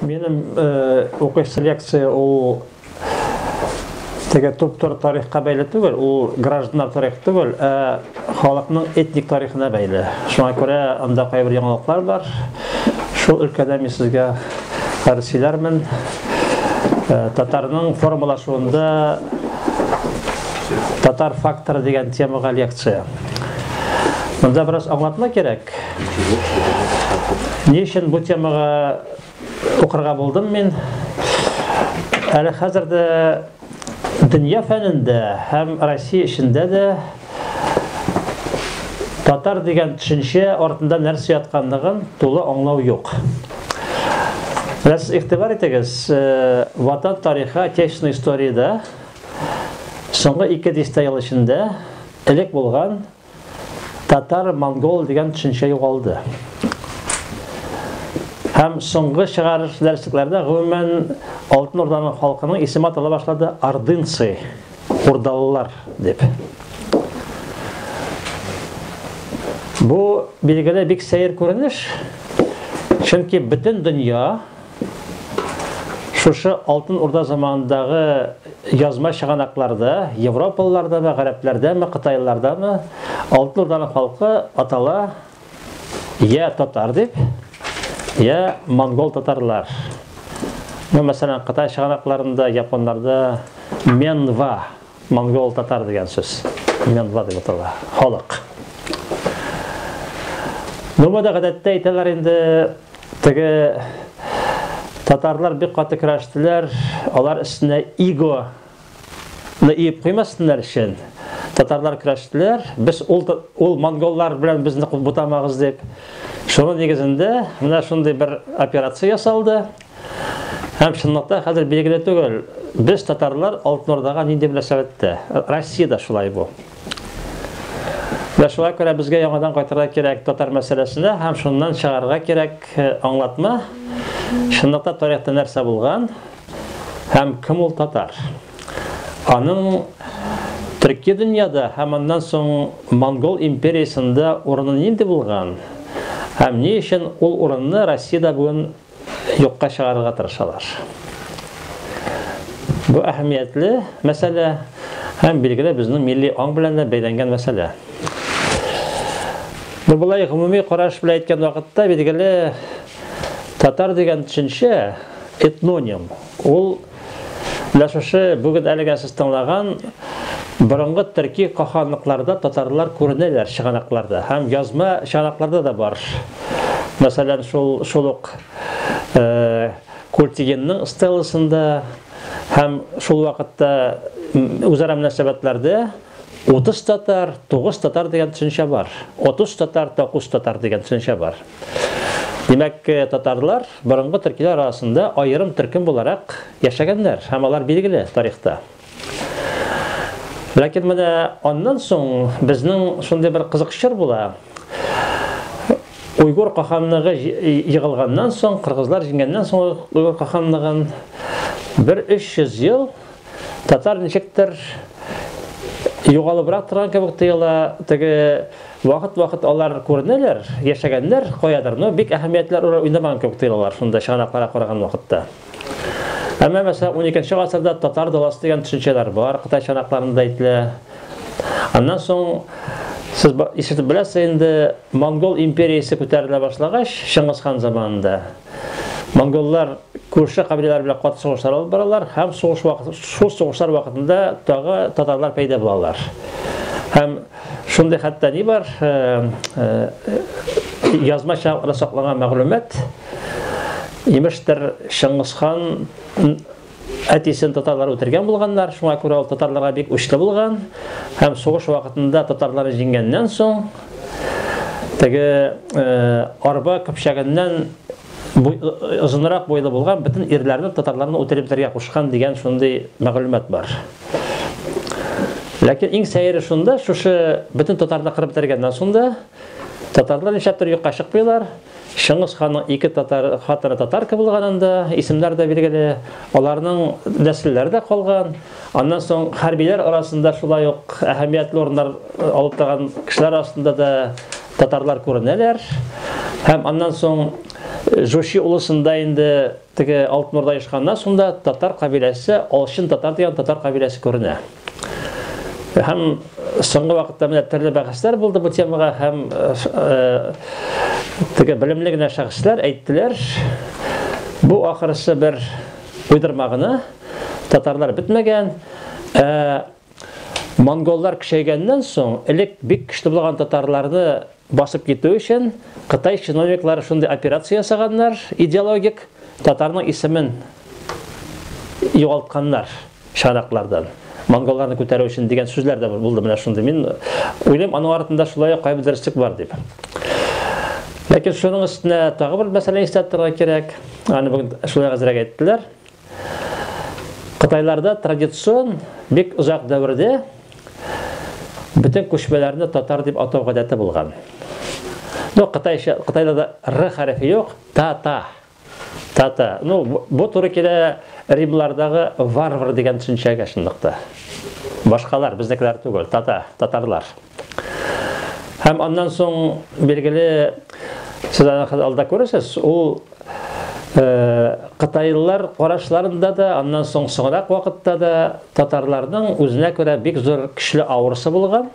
Минем э, укыш селекция ул теге туптур тарихка бәйле түгел, ул гражданнар тарихы түгел, ә халыкның этник тарихына бәйле. Шуңа күрә анда кайбер яңалыклар бар. Шул өлкәдә мин сезгә хәрсиләрмен. Э, татарның формалашуында татар факторы дигән темага лекция. Монда бераз аңлатма кирәк. Ни өчен бу темага укырга булдым мин? Әле хәзер дә дөнья фәнендә һәм Россия эчендә дә татар дигән төшенчә артында нәрсә ятканлыгын тулы аңлау юк. Раз игътибар итегез, э, ватан тарихы, отечественная историядә соңгы ике дистә ел эчендә Элек булган татар, монгол дигән төшенчә югалды. Һәм соңгы чыгарыш дәреслекләрдә гомумән Алтын Урданың халкының исеме атала башлады Ордынцы, урдалылар дип. Бу билгеле бик сәер күренеш, чөнки бөтен дөнья Шушы Алтын Урда заманындагы язма чыганакларда, европалылардамы, гарәпләрдәме, кытайлылардамы, Алтын Урданың халкы атала я татар дип, я монгол татарлар. Ну, мәсәлән, Кытай чыганакларында, японнарда Менва Монгол татар дигән сүз. Мёнва дип атала. Халык. Ну бу да гадәттә әйтәләр инде теге татарлар бик каты көрәштеләр, алар өстенә иго ны иеп куймасыннар өчен татарлар көрәштеләр. Без ул ул монголлар белән безне бутамагыз дип. Шуның нигезендә менә шундый бер операция ясалды. Һәм чынлыкта хәзер билгеле түгел, без татарлар Алтын Урдага нинди мөнәсәбәттә. Россиядә шулай бу. Вә шулай күрә безгә яңадан кайтырга кирәк татар мәсьәләсенә һәм шуннан чыгарырга кирәк э, аңлатма. Чынлыкта тарихта нәрсә булган һәм кем ул татар? Аның төрки дөньяда һәм аннан соң монгол империясендә урыны нинди булган? Һәм ни өчен ул урынны Россиядә бүген юкка чыгарырга тырышалар. Бу әһәмиятле мәсьәлә һәм билгеле безнең милли аң белән дә бәйләнгән мәсьәлә. Ну, былай гомуми караш белән әйткән вакытта, билгеле, татар дигән төшенчә этноним. Ул Менә шушы бүген әлегә сез тыңлаган борынгы төрки каханлыкларда татарлар күренәләр чыганакларда һәм язма чыганакларда да бар. Мәсәлән, шул шул ук Культигенның стелласында һәм шул вакытта үзара мөнәсәбәтләрдә 30 татар, 9 татар дигән төшенчә бар. 30 татар, 9 татар дигән төшенчә бар. Димәк, татарлар борынгы төркиләр арасында аерым төркем буларак яшәгәннәр һәм алар билгеле тарихта. Ләкин менә аннан соң безнең шундый бер кызык чор була. Уйгур каханлыгы егылганнан соң, кыргызлар җиңгәннән соң Уйгур каханлыгын бер 300 ел Татар ничектер югалыбрак торган кебек тоела, теге вакыт-вакыт алар күренәләр, яшәгәннәр каядыр, но бик әһәмиятле роль уйнамаган кебек тоелалар шунда чыганакларга караган вакытта. Әмма мәсәлән 12 гасырда татар даласы дигән төшенчәләр бар, Кытай чанакларында әйтелә. Аннан соң сез ишетеп беләсез инде, монгол империясе күтәрелә башлагач, Чыңгыз хан заманында, Монголлар күрше кабиләләр белән каты сугышлар алып баралар һәм сугыш вакыты, шул сугышлар вакытында тагы татарлар пәйда булалар. Һәм шундый хәтта ни бар, э, э, язмача саклаган мәгълүмат, имештер Шыңгысхан Әтисен татарлар үтергән булганнар, шуңа күрә ул татарларга бик учлы булган һәм сугыш вакытында татарлар җиңгәннән соң теге э, арба көпчәгеннән э, озынрак буйлы булган бөтен ирләрне татарларны үтереп бетергә кушкан дигән шундый мәгълүмат бар. Ләкин иң сәере шунда, шушы бөтен татарларны кырып бетергәннән соң да татарлар нишләптер юкка чыкмыйлар, Чыңгыз ханның ике татар хатыны татарка булганын да исемнәр дә билгеле. Аларның нәселләре дә калган. Аннан соң хәрбиләр арасында шулай ук әһәмиятле урыннар э, алып торган кешеләр арасында да татарлар күренәләр. Һәм аннан соң э, Жучи улысында инде Теге Алтмурда ешканда шунда татар кабиләсе, Алчын татар дигән татар кабиләсе күренә. Һәм соңгы вакытта менә төрле бәхәсләр булды бу темага һәм теге белемле генә шәхесләр әйттеләр, бу ахырысы бер уйдырма гына, татарлар бетмәгән, ә Монголлар көчәйгәннән соң, элек бик көчле булган татарларны басып китү өчен, кытай чиновниклары шундый операция ясаганнар, идеологик, татарның исемен югалтканнар чыганаклардан, монголларны күтәрү өчен дигән сүзләр дә булды менә шундый. Мин уйлыйм, аның артында шулай ук кайбер дөреслек бар дип. Ләкин шуның өстенә тагы бер мәсьәлә истә торырга кирәк. Аны бүген шулай әзрәк әйттеләр. Кытайларда традицион бик озак дәвердә бөтен күчмәләрне татар дип атау гадәте булган. Ну, кытайча, кытайда да р хәрефе юк, та-та. Та-та. Ну, бу туры килә римлардагы варвар дигән төшенчәгә шундык Башкалар, безнекеләр түгел, тата, татарлар. Һәм аннан соң билгеле сез алда күрәсез, ул Э, кытайлылар карашларында да аннан соң соңрак вакытта да татарларның үзенә күрә бик зур көчле авырысы булган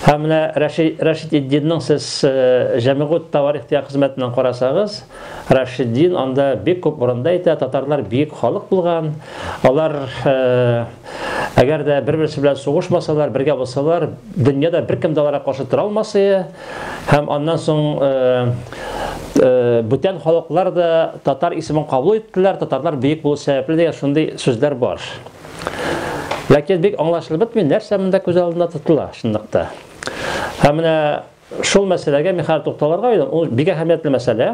һәм менә рәшид рәшидетдинның сез э, җәмигут таварих дигән хезмәтеннән карасагыз рәшиддин анда бик күп урында әйтә татарлар бик халык булган алар э, Әгәр дә бер-берсе белән сугышмасалар, бергә булсалар, дөньяда беркем дә аларга каршы тора алмасы һәм аннан соң э, э, бүтән халыклар да татар исемен кабул иттеләр, татарлар бөек булу сәбәпле дигән шундый сүзләр бар. Ләкин бик аңлашылып бетми, нәрсә монда күз алдында тотыла шунлыкта. Һәм менә шул мәсьәләгә мин хәзер тукталырга уйлыйм. Ул бик әһәмиятле мәсьәлә.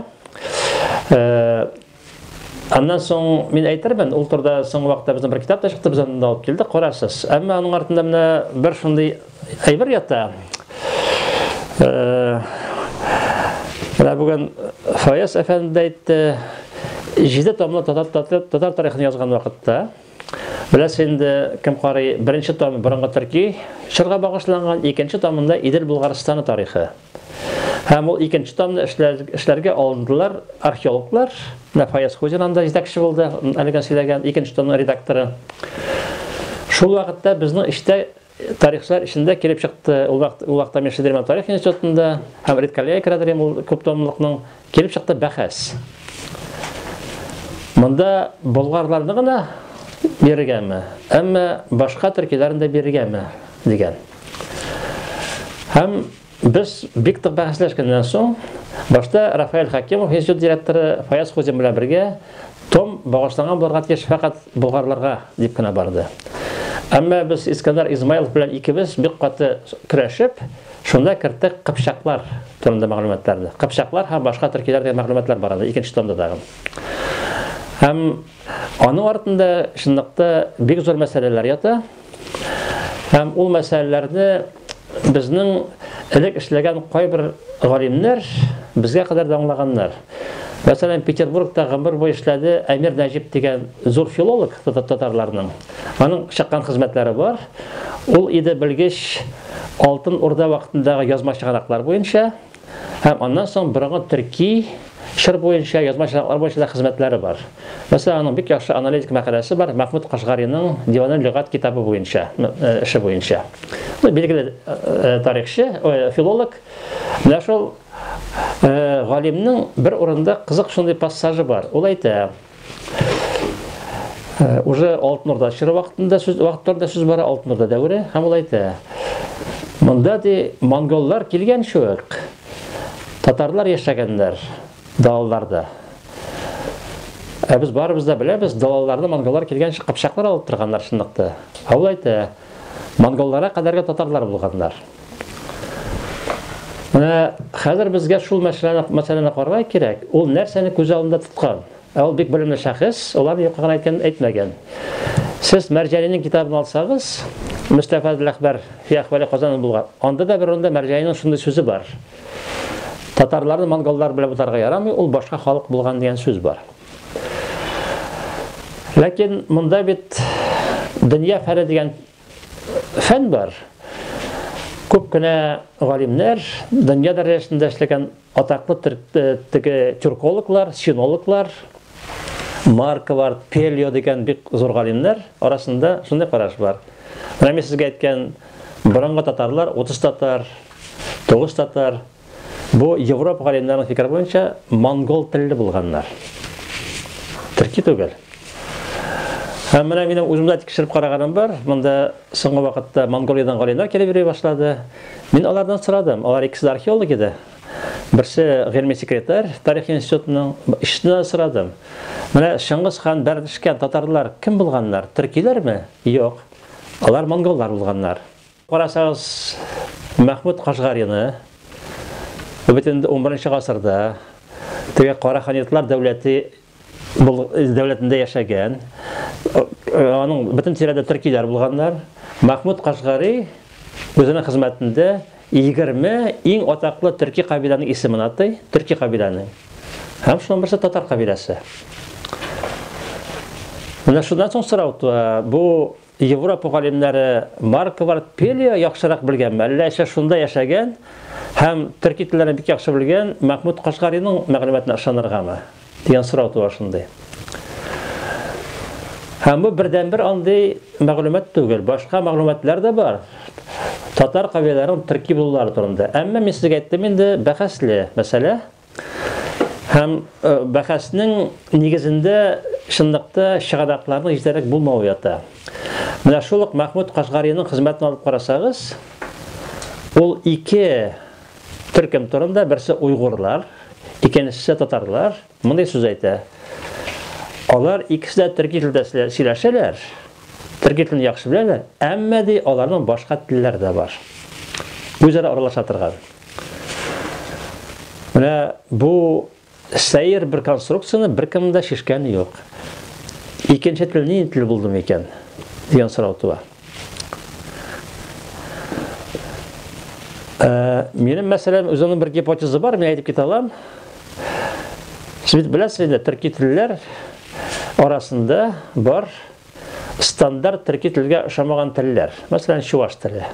Э, Аннан соң мин әйтермен, ул турда соңгы вакытта безнең бер китап та чыкты, без аны алып килдек, карасыз. Әмма аның артында менә бер шундый әйбер ята. Э, менә бүген Фаяз әфәнде дә әйтте, җиде томлы татар, татар, татар тарихын язган вакытта, Беләсез инде, кем карый, беренче том борынгы төрки чорга багышланган, икенче томында Идел Булгарстаны тарихы. Һәм ул икенче томны эшләргә алындылар археологлар. Менә Фаяз Хузин анда җитәкче булды, әлегә сөйләгән икенче томның редакторы. Шул вакытта безнең эштә тарихчылар эчендә килеп чыкты. Ул вакытта мин Шедерман тарих институтында һәм редколлегия керәдерем ул күп томлыкның Килеп чыкты бәхәс. Монда болгарларны гына биргәме, әмма башка төркиләрне дә биргәме дигән. Һәм без бик тык бәхәсләшкәннән соң, башта Рафаэль Хакимов институт директоры Фаяз Хузин белән бергә том багышланган булырга тиеш фәкать болгарларга дип кенә барды. Әмма без Искәндәр Измайлов белән икебез бик каты көрәшеп, Шунда керттек кыпчаклар турында мәгълүматларны. Кыпчаклар һәм башка төркиләр дигән мәгълүматлар бар анда икенче томда тагын. Һәм аның артында чынлыкта бик зур мәсьәләләр ята. Һәм ул мәсьәләләрне безнең элек эшләгән кайбер галимнәр безгә кадәр дә аңлаганнар. Мәсәлән, Петербургта гомер буе эшләде Әмир Нәҗип дигән зур филолог татарларның. Аның чыккан хезмәтләре бар. Ул иде белгеч Алтын Урда вакытындагы язма чыганаклар буенча һәм аннан соң борынгы төрки чор буенча язма чыганаклар буенча да хезмәтләре бар. Мәсәлән, аның бик яхшы аналитик мәкаләсе бар Мәхмүд Кашгариның Диваны лөгат китабы буенча, э, эше буенча. Ну, билгеле э, тарихчы, э, филолог. Менә шул галимнең бер урында кызык шундый пассажы бар. Ул әйтә, Э, уже Алтын Урда чоры вакытында сүз вакытларда сүз бара Алтын Урда дәвере һәм ул әйтә. Монда ди монголлар килгән шук. Татарлар яшәгәннәр далаларда. Ә без барыбыз да беләбез, далаларда монголлар килгән кыпчаклар алып торганнар шунлыкта. Ә ул әйтә, монголларга кадәрге татарлар булганнар. Менә хәзер безгә шул мәсьәләне мәсьәләне карарга кирәк. Ул нәрсәне күз алдында тоткан? Ә ул бик белемле шәхес, алар юкка гына әйткән әйтмәгән. Сез Мәрҗәнинең китабын алсагыз, Мустафа Ләхбәр фи ахвали Казан булган. Анда да бер урында Мәрҗәнинең шундый сүзе бар. Татарларны монголлар белән бутарга ярамый, ул башка халык булган дигән сүз бар. Ләкин монда бит дөнья фәре дигән Фән бар. Күп кенә галимнәр, дөнья дәрәҗәсендә эшләгән атаклы теге тюркологлар, синологлар, Марко бар, Пельо дигән бик зур галимнәр арасында шундый караш бар. Менә мин сезгә әйткән борынгы татарлар, 30 татар, 9 татар, Бу Европа галимнәренең фикере буенча монгол телле булганнар. Төрки түгел. Һәм менә минем үземдә тикшереп караганым бар. Монда соңгы вакытта Монголиядән галимнәр килеп йөри башлады. Мин алардан сорадым. Алар икесе дә археолог иде. Берсе гыйльми секретарь тарих институтының ишетүдән сорадым. Менә Шыңгыз хан бәрдешкән татарлар кем булганнар? Төркиләрме? Юк. Алар монголлар булганнар. Карасагыз, Мәхмүт Кашгарины, бөтен унберенче гасырда теге кара ханиятлар дәүләте дәүләтендә яшәгән, аның бөтен тирәдә төркиләр булганнар. Мәхмүт Кашгари үзенең хезмәтендә 20 иң атаклы төрки кабиләнең исемен атый, төрки кабиләнең. Һәм шуның берсе татар кабиләсе. Менә шуннан соң сорау туа, бу Европа галимнәре маркалар пелия яхшырак белгәнме, әллә әшә шунда яшәгән һәм төрки телләрен бик яхшы белгән Мәхмүд Кашгариның мәгълүматына ышаныргамы? дигән сорау туа шундый. Һәм бу бердәнбер андый мәгълүмат түгел, башка мәгълүматлар да бар. Татар кавиләрен төрки булулары турында. Әмма мин сезгә әйттем инде, бәхәсле мәсьәлә. Һәм э, бәхәснең нигезендә чынлыкта чыганакларның җитәрлек булмавы ята. Менә шул ук Мәхмүд Кашгариның хезмәтен алып карасагыз, ул ике төркем турында, берсе уйгурлар, икенчесе татарлар, мондый сүз әйтә. Алар икесе дә төрки телдә сөйләшәләр, төрки телен яхшы беләләр, әмма ди аларның башка телләре дә бар. Үзара аралаша торган. Менә бу сәер бер конструкцияне беркем дә шешкәне юк. Икенче тел ни тел булды микән? дигән сорау туа. Э, минем мәсәлән үземнең бер гипотеза бар, мин әйтеп китә алам. Сез беләсез инде, төрки телләр арасында бар Стандарт төрки телгә ошамаган телләр, мәсәлән, чуваш теле,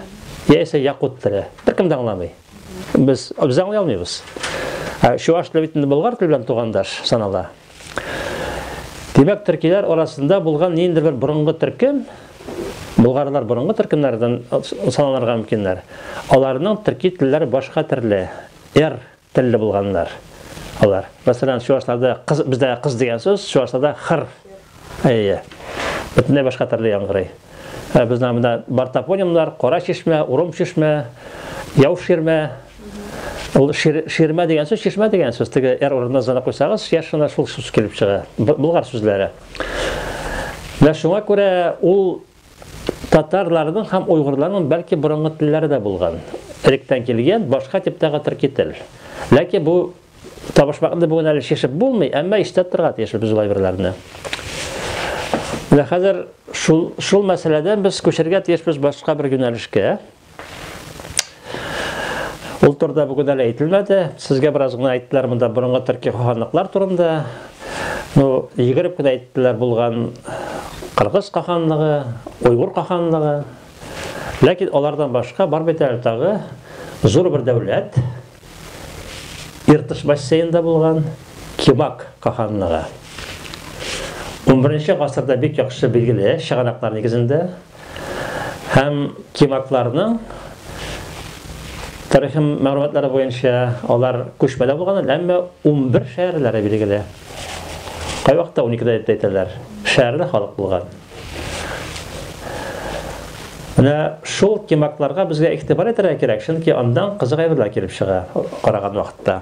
яисә якут теле, беркем дә аңламый. Без без аңлый алмыйбыз. Ә чуваш теле бит инде болгар теле белән тугандаш санала. Димәк, төркиләр арасында булган ниндидер бер борынгы төркем, болгарлар борынгы төркемнәрдән саналырга мөмкиннәр. Аларның төрки телләре башка төрле. Р Телле булганнар алар. Мәсәлән, чуашларда кыз, бездә кыз дигән сүз, чуашларда хыр. Әйе. Бөтенләй башка төрле яңгырый. Ә бездә монда бар топонимнар, Кара чишмә, Урым чишмә, Яу ширмә. Ул шир, ширмә дигән сүз, чишмә дигән сүз. Теге эр урынына зына куйсагыз, яшь гына шул сүз килеп чыга. Булгар сүзләре. Менә шуңа күрә ул Татарларның һәм уйгырларның бәлки борынгы телләре дә булган. Электән килгән башка типтагы төрки тел. Ләкин бу табышмакны бүген әле шешеп булмый, әмма истә торырга тиеш без ул әйберләрне. Менә хәзер шул шул мәсьәләдән без күчәргә тиешбез башка бер юнәлешкә. Ул турыда бүген әле әйтелмәде. Сезгә бераз гына әйттеләр монда борынгы төрки ханлыклар турында. Ну, егереп кенә әйттеләр булган Кыргыз каханлыгы, Уйгур каханлыгы. Ләкин алардан башка бар бит әле тагы зур бер дәүләт. Иртыш бассейнда булган Кибак каханлыгы. 11 нче гасырда бик яхшы билгеле чыганаклар нигезендә. Һәм киматларның тарихи мәгълүматлары буенча алар күчмәдә булган, әмма 11 шәһәрләре билгеле. Кай вакытта 12 дә дип әйтәләр. Шәһәрле халык булган. Менә шул киматларга безгә игътибар итәргә кирәк, чөнки андан кызык әйберләр килеп чыга караган вакытта.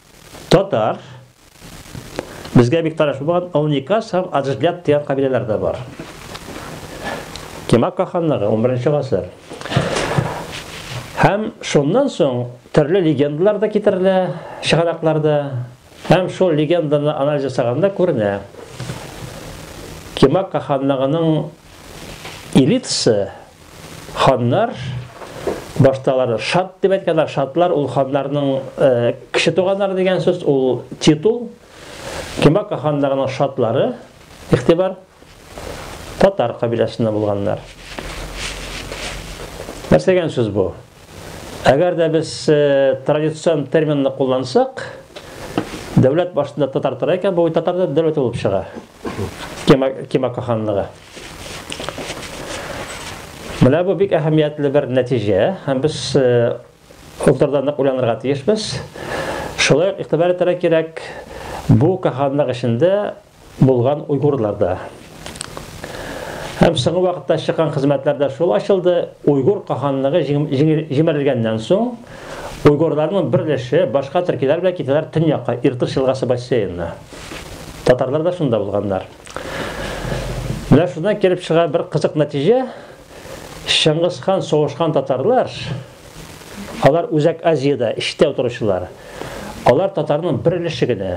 Татар, безгә бик таныш булмаган Олникас һәм Аджглят дигән кабиләләр дә бар. Кемакка ханлыгы, 11 гасыр. Һәм шуннан соң төрле легендалар да китерелә чыганакларда. Һәм шул легенданы анализ ясаганда күренә. Кемакка ханлыгының элитасы Ханнар башта аларны шат дип әйткәннәр. Шатлар ул ханнарның э, кеше туганнары дигән сүз, ул титул. Кемака ханнарының шатлары, ихтибар, татар кабиләсендә булганнар. Нәрсә дигән сүз бу? Әгәр дә без э, традицион терминны куллансак, дәүләт башында татар тора икән, бу татар да дәүләте булып чыга. Кемака ханлыгы. Менә бу бик әһәмиятле бер нәтиҗә, һәм без ул нык уйланырга тиешбез. Шулай ук игътибар итәргә кирәк, бу каһанлык эчендә булган уйгурлар да. Һәм соңгы вакытта чыккан хезмәтләрдә шул ачылды, уйгур каһанлыгы җимерелгәннән соң, уйгурларның бер өлеше башка төркиләр белән китәләр төньякка, Иртыш елгасы бассейнына. Татарлар да шунда булганнар. Менә шуннан килеп чыга бер кызык нәтиҗә. Чыңгыз хан сугышкан татарлар, алар Үзәк Азиядә эчтә утыручылар. Алар татарның бер өлеше генә.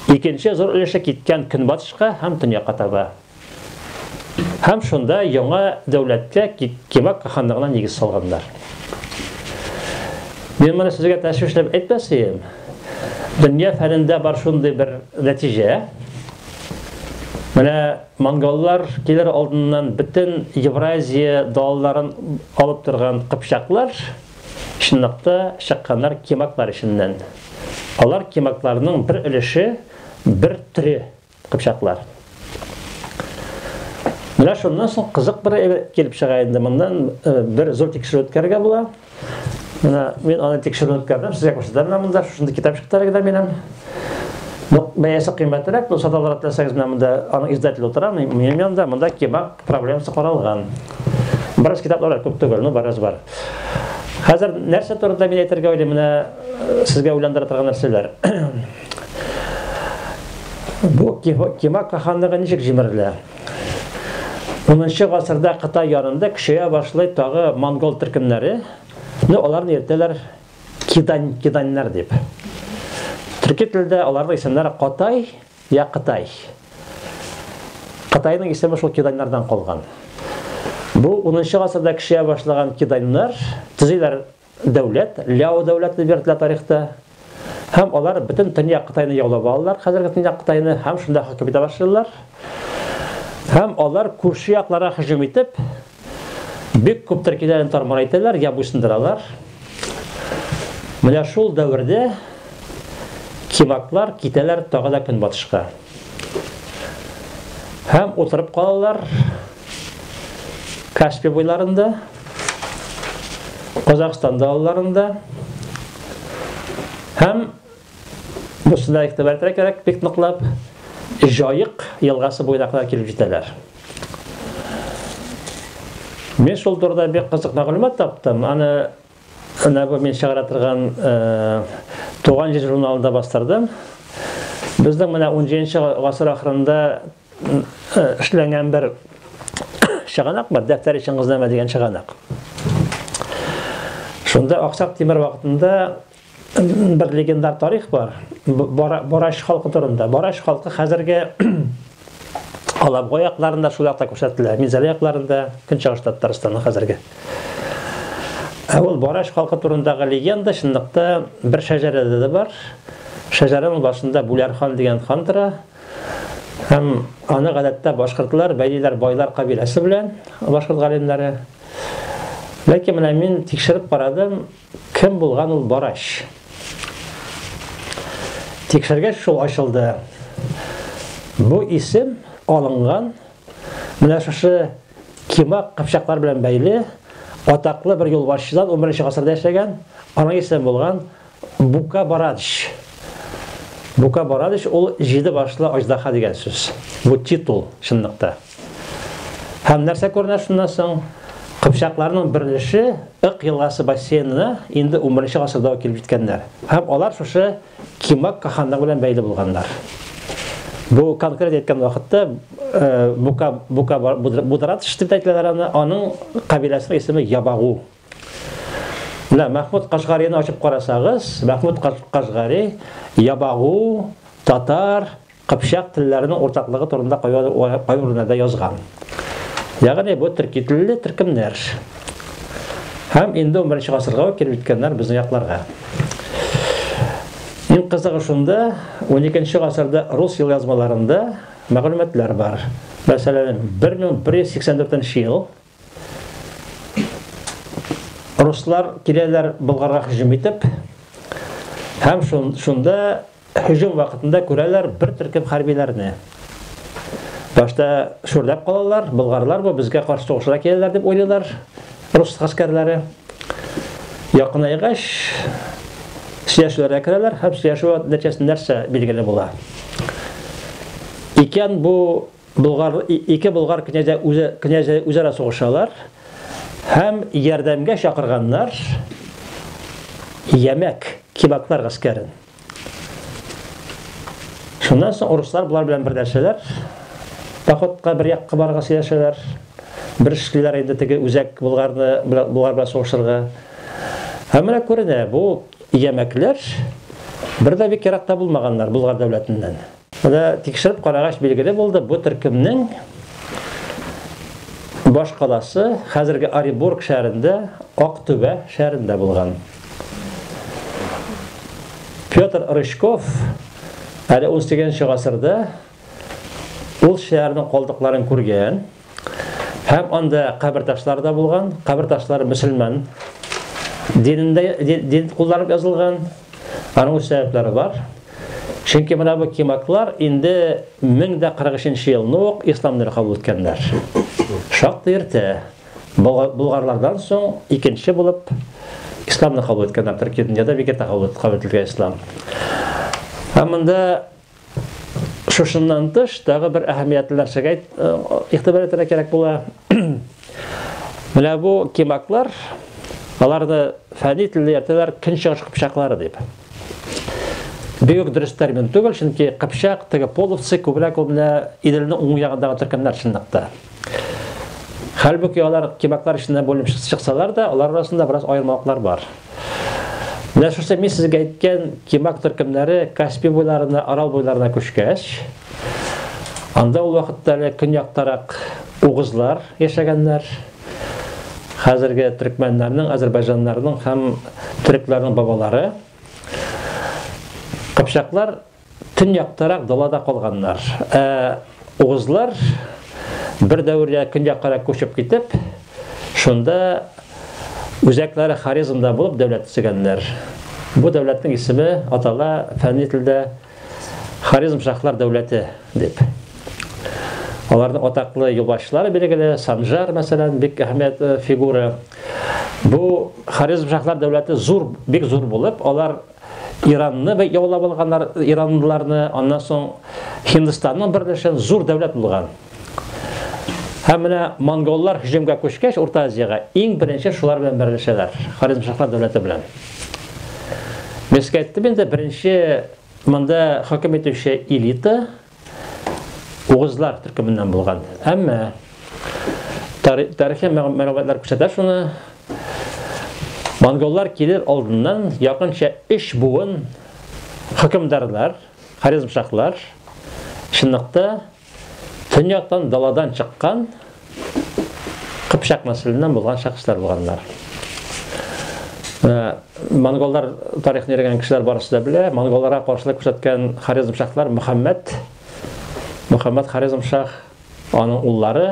Икенче зур өлеше киткән көнбатышка һәм төньякка таба. Һәм шунда яңа дәүләткә Кибак ханлыгына нигез салганнар. Мин моны сезгә тәшвишләп әйтмәсем. Дөнья фәнендә бар шундый бер нәтиҗә. Менә монголлар килер алдыннан бөтен Евразия далаларын алып торган кыпчаклар, чынлап та, чыкканнар кимаклар эченнән. Алар кимакларның бер өлеше, бер төре кыпчаклар. Менә шуннан соң кызык бер әйбер килеп чыга инде, моннан бер зур тикшерү үткәрергә була. Менә мин аны тикшерү үткәрдем, сезгә күрсәтәм менә монда, шушында китап чыктылар генә минем. Ну, бәясе кыйммәтрәк, но саталар атласагыз менә монда аның издателе утыра, минем янында, монда кебаб проблемасы каралган. Бераз китаплар күп түгел, ну бераз бар. Хәзер нәрсә турында мин әйтергә уйлыйм, менә э, сезгә уйландыра торган нәрсәләр. Бу кебаб каханлыгы ничек җимерелә? Унынчы гасырда Кытай ярында көчәя башлый тагы монгол төркемнәре. Ну, аларны йөртәләр кидань, киданьнар дип. Төрки телдә аларның исемнәре Катай я Кытай. Кытайның исеме шул киданьнардан калган. Бу 10 нчы гасырда кешегә башлаган киданьнар төзиләр Дәүләт, Ляо дәүләтен бирделәр тарихта. Һәм алар бөтен төньяк Кытайны яулап алалар, хәзерге төньяк Кытайны, һәм шунда хөкем итә башлыйлар. Һәм алар күрше якларга һөҗүм итеп, бик күп төркиләрен тармар итәләр, я буйсындыралар. Менә шул дәвердә кимаклар китәләр тагы да көнбатышка. Һәм утырып калалар. Каспий буйларында, Казахстан далаларында һәм бусында игътибар кирәк бик ныклап Җаек елгасы буена кадәр килеп җитәләр. Мин шул турыда бик кызык мәгълүмат таптым. Аны менә бу мин чыгара торган э, Туган җир журналында бастырдым. Безнең менә 17 гасыр ахырында эшләнгән бер чыганак бар, дәфтәр өчен кызнама дигән чыганак. Шунда Аксак Тимер вакытында бер легендар тарих бар. Бараш халкы турында. Бараш халкы хәзерге Алабго якларында шул якта күрсәтелә. Минзәлә якларында, Көнчыгыш Татарстаны хәзерге. Ә ул Бараш халкы турындагы легенда чынлыкта бер шәҗәрәдә дә бар. Шәҗәрәнең башында Бүләр хан дигән хан тора. Һәм аны гадәттә башкортлар бәйлиләр байлар кабиләсе белән, башкорт галимнәре. Ләкин менә мин тикшереп карадым, кем булган ул Барач. Тикшергәч шул ачылды. Бу исем алынган менә шушы Кимак кыпчаклар белән бәйле атаклы бер юлбашчыдан 11 нче гасырда яшәгән, аның исеме булган Бука Борадыч. Бука Борадыч ул җиде башлы аҗдаһа дигән сүз. Бу титул чынлыкта. Һәм нәрсә күренә шуннан соң? Кыпчакларның берлеше Ык елгасы бассейнына инде 11 нче гасырда ук килеп җиткәннәр. Һәм алар шушы Кимак каханлыгы белән бәйле булганнар. Бу конкрет әйткән вакытта Бука Бука Будратыч дип әйтәләр аны, аның кабиләсенең исеме Ябагу. Менә Мәхмүд Кашгарины ачып карасагыз, Мәхмүд Кашгари ябагу, татар, кыпчак телләренең уртаклыгы турында кайбер язган. Ягъни бу төрки телле төркемнәр. Һәм инде 11 гасырга ук килеп җиткәннәр безнең якларга. Иң кызыгы шунда, 12 гасырда рус ел язмаларында мәгълүматлар бар. Мәсәлән, 1184 ел Руслар киләләр Болгарга һөҗүм итеп. Һәм шунда һөҗүм вакытында күрәләр бер төркем хәрбиләрне. Башта шүрләп калалар, болгарлар бу безгә каршы сугышырга киләләр дип уйлыйлар рус гаскәрләре. Якынайгач, сөйләшүләргә керәләр һәм сөйләшү нәтиҗәсендә нәрсә билгеле була? Икән бу Болгар ике болгар князя үзе князя үзара сугышалар һәм ярдәмгә чакырганнар Ямәк кибаклар гаскәрен. Шуннан соң урыслар болар белән берләшәләр. Походка бер як кыбарга сөйләшәләр. Бер эшлиләр инде теге үзәк булгарны булгар белән сугышырга. Һәм менә күренә, бу ямәкләр бер дә бик яракта булмаганнар Булгар дәүләтеннән. Менә тикшереп карагач билгеле булды, бу төркемнең баш каласы хәзерге Оренбург шәһәрендә, Актүбә шәһәрендә булган. Петр Рычков әле 18 нче гасырда ул шәһәрнең калдыкларын күргән. Һәм анда кабер ташлары да булган. Кабер ташлары мөселман динендә дин кулланып язылган. Аның үз сәбәпләре бар. Чөнки менә бу кимаклар инде 1043 елны ук ислам динен кабул иткәннәр. Шактый иртә. Болгарлардан соң икенче булып исламны кабул иткәннәр Төркия дөньяда бик иртә кабул ителгән ислам. Һәм монда Шушыннан тыш, тагы бер әһәмиятле нәрсәгә э, игътибар итәргә кирәк була. Менә бу кимаклар, аларны фәнни телдә йөртәләр көн чыгыш кыпчаклары дип. Бигүк дөрес термин түгел, чөнки кыпчак теге половцы күбрәк ул менә Иделнең уң ягындагы төркемнәр чынлыкта. Хәлбуки алар кимаклар эченнән бүленеп чыксалар да, алар арасында бераз аермалыклар бар. Менә шушы мин сезгә әйткән кимак төркемнәре Каспий буйларына, Арал буйларына күчкәч, анда ул вакытта әле көньяктарак угызлар яшәгәннәр. Хәзерге төркмәннәрнең, азербайҗаннарның һәм төрекләрнең бабалары. Кыпчаклар Төньяктарак далада калганнар. Ә угызлар бер дәвердә көньяккарак күчеп китеп, шунда үзәкләре Хорезмда булып дәүләт төзегәннәр. Бу дәүләтнең исеме атала фәнни телдә Хорезм шахлар дәүләте дип. Аларның атаклы юлбашчылары билгеле, Санжар, мәсәлән, бик әһәмият э, фигура. Бу Хорезм шахлар дәүләте зур, бик зур булып, алар Иранны яулап алганнар иранлыларны, аннан соң Һиндстанның берләшен зур дәүләт булган. Һәм менә монголлар һөҗүмгә күчкәч Урта Азиягә иң беренче шулар белән берләшәләр, Хорезмшахлар дәүләте белән. Мескәттә инде беренче монда хөкем итүче элита Угызлар төркеменнән булган. Әмма тарихи мәгълүматлар күрсәтә шуны. Монголлар килер алдыннан якынча 3 буын хөкемдарлар, харизмшахлар чынлыкта төньяктан даладан чыккан Кыпчак нәселеннән булган шәхесләр булганнар. Монголлар тарихын йөргән кешеләр барысы да белә. Монголларга каршылык күрсәткән Хорезм шахлар Мөхәммәд, Мөхәммәд Хорезм шах, аның уллары,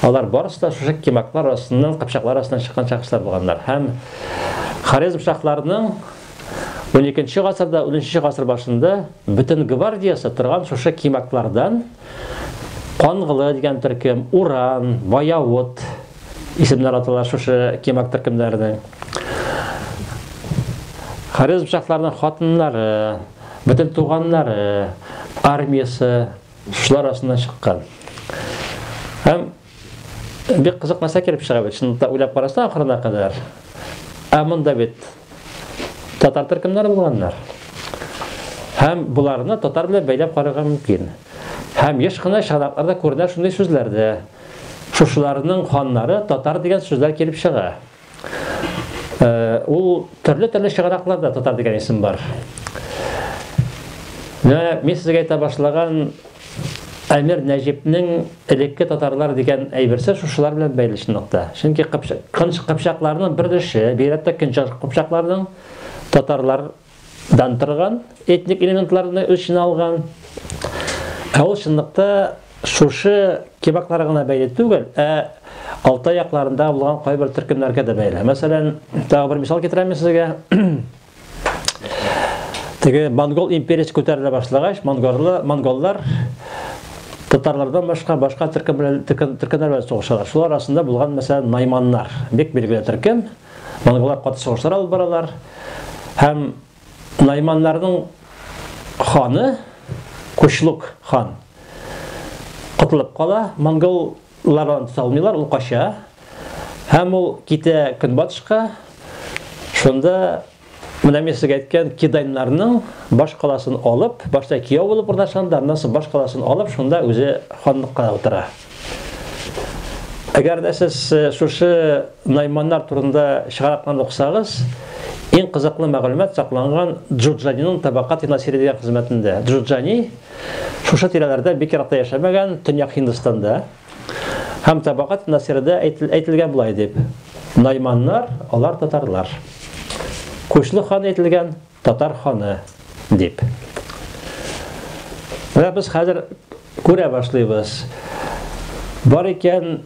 алар барысы да шушы кимаклар арасыннан, кыпчаклар арасыннан чыккан шәхесләр булганнар. Һәм Хорезм шахларының 12 нче гасырда, 13 нче гасыр башында бөтен гвардиясе торган шушы кимаклардан Кангылы дигән төркем, Уран, Баявут исемнәр атала шушы кемак төркемнәренең. Харизм шәхсләренең хатыннары, бөтен туганнары, армиясе шулар арасыннан чыккан. Һәм Бик кызык нәрсә килеп чыга бит, шунда уйлап карасаң ахырына кадәр. Ә монда бит татар төркемнәре булганнар. Һәм буларны татар белән бәйләп карарга мөмкин. Һәм еш кына чаракларда күренә шундый сүзләрдә. Шушыларның ханнары татар дигән сүзләр килеп чыга. Э, ул төрле-төрле чыгаракларда татар дигән исем бар. Менә мин сезгә әйтә башлаган Әмир Нәҗипнең элекке татарлар дигән әйберсе шушылар белән бәйле чынлыкта. Чөнки кыпчакларның бер өлеше, бигрәк тә көнчыгыш кыпчакларның татарлар дан торган этник элементларны үз эченә алган. Ә ул чынлыкта шушы кебакларга гына бәйле түгел, ә Алтай якларында булган кайбер төркемнәргә дә бәйле. Мәсәлән, тагы бер мисал китерәм сезгә. Теге монгол империясе күтәрелә башлагач, монгорлы монголлар татарлардан башка башка төркемнәр төркемнәр белән сугышалар. Шулар арасында булган мәсәлән найманнар, бик билгеле төркем. Монголлар каты сугышлар алып баралар һәм Найманнарның ханы Кучлук хан котылып кала, монголлар аны тота алмыйлар, ул кача һәм ул китә көнбатышка, шунда Менә мин сезгә әйткән Киданьнарның баш каласын алып, башта кияү булып урнашкан да, аннан соң баш каласын алып, шунда үзе ханлыкка утыра. Әгәр дә сез э, шушы найманнар турында чыгаракларын укысагыз, иң кызыклы мәгълүмат сакланган Джуджаниның табакат насири дигән хезмәтендә. Джуджани шушы тирәләрдә бик еракта яшәмәгән, Төньяк Һиндстанда. Һәм табагат насирдә әйтелгән болай дип, Найманнар, алар татарлар. Күчле хан әйтелгән, татар ханы дип. Менә без хәзер күрә башлыйбыз. Бар икән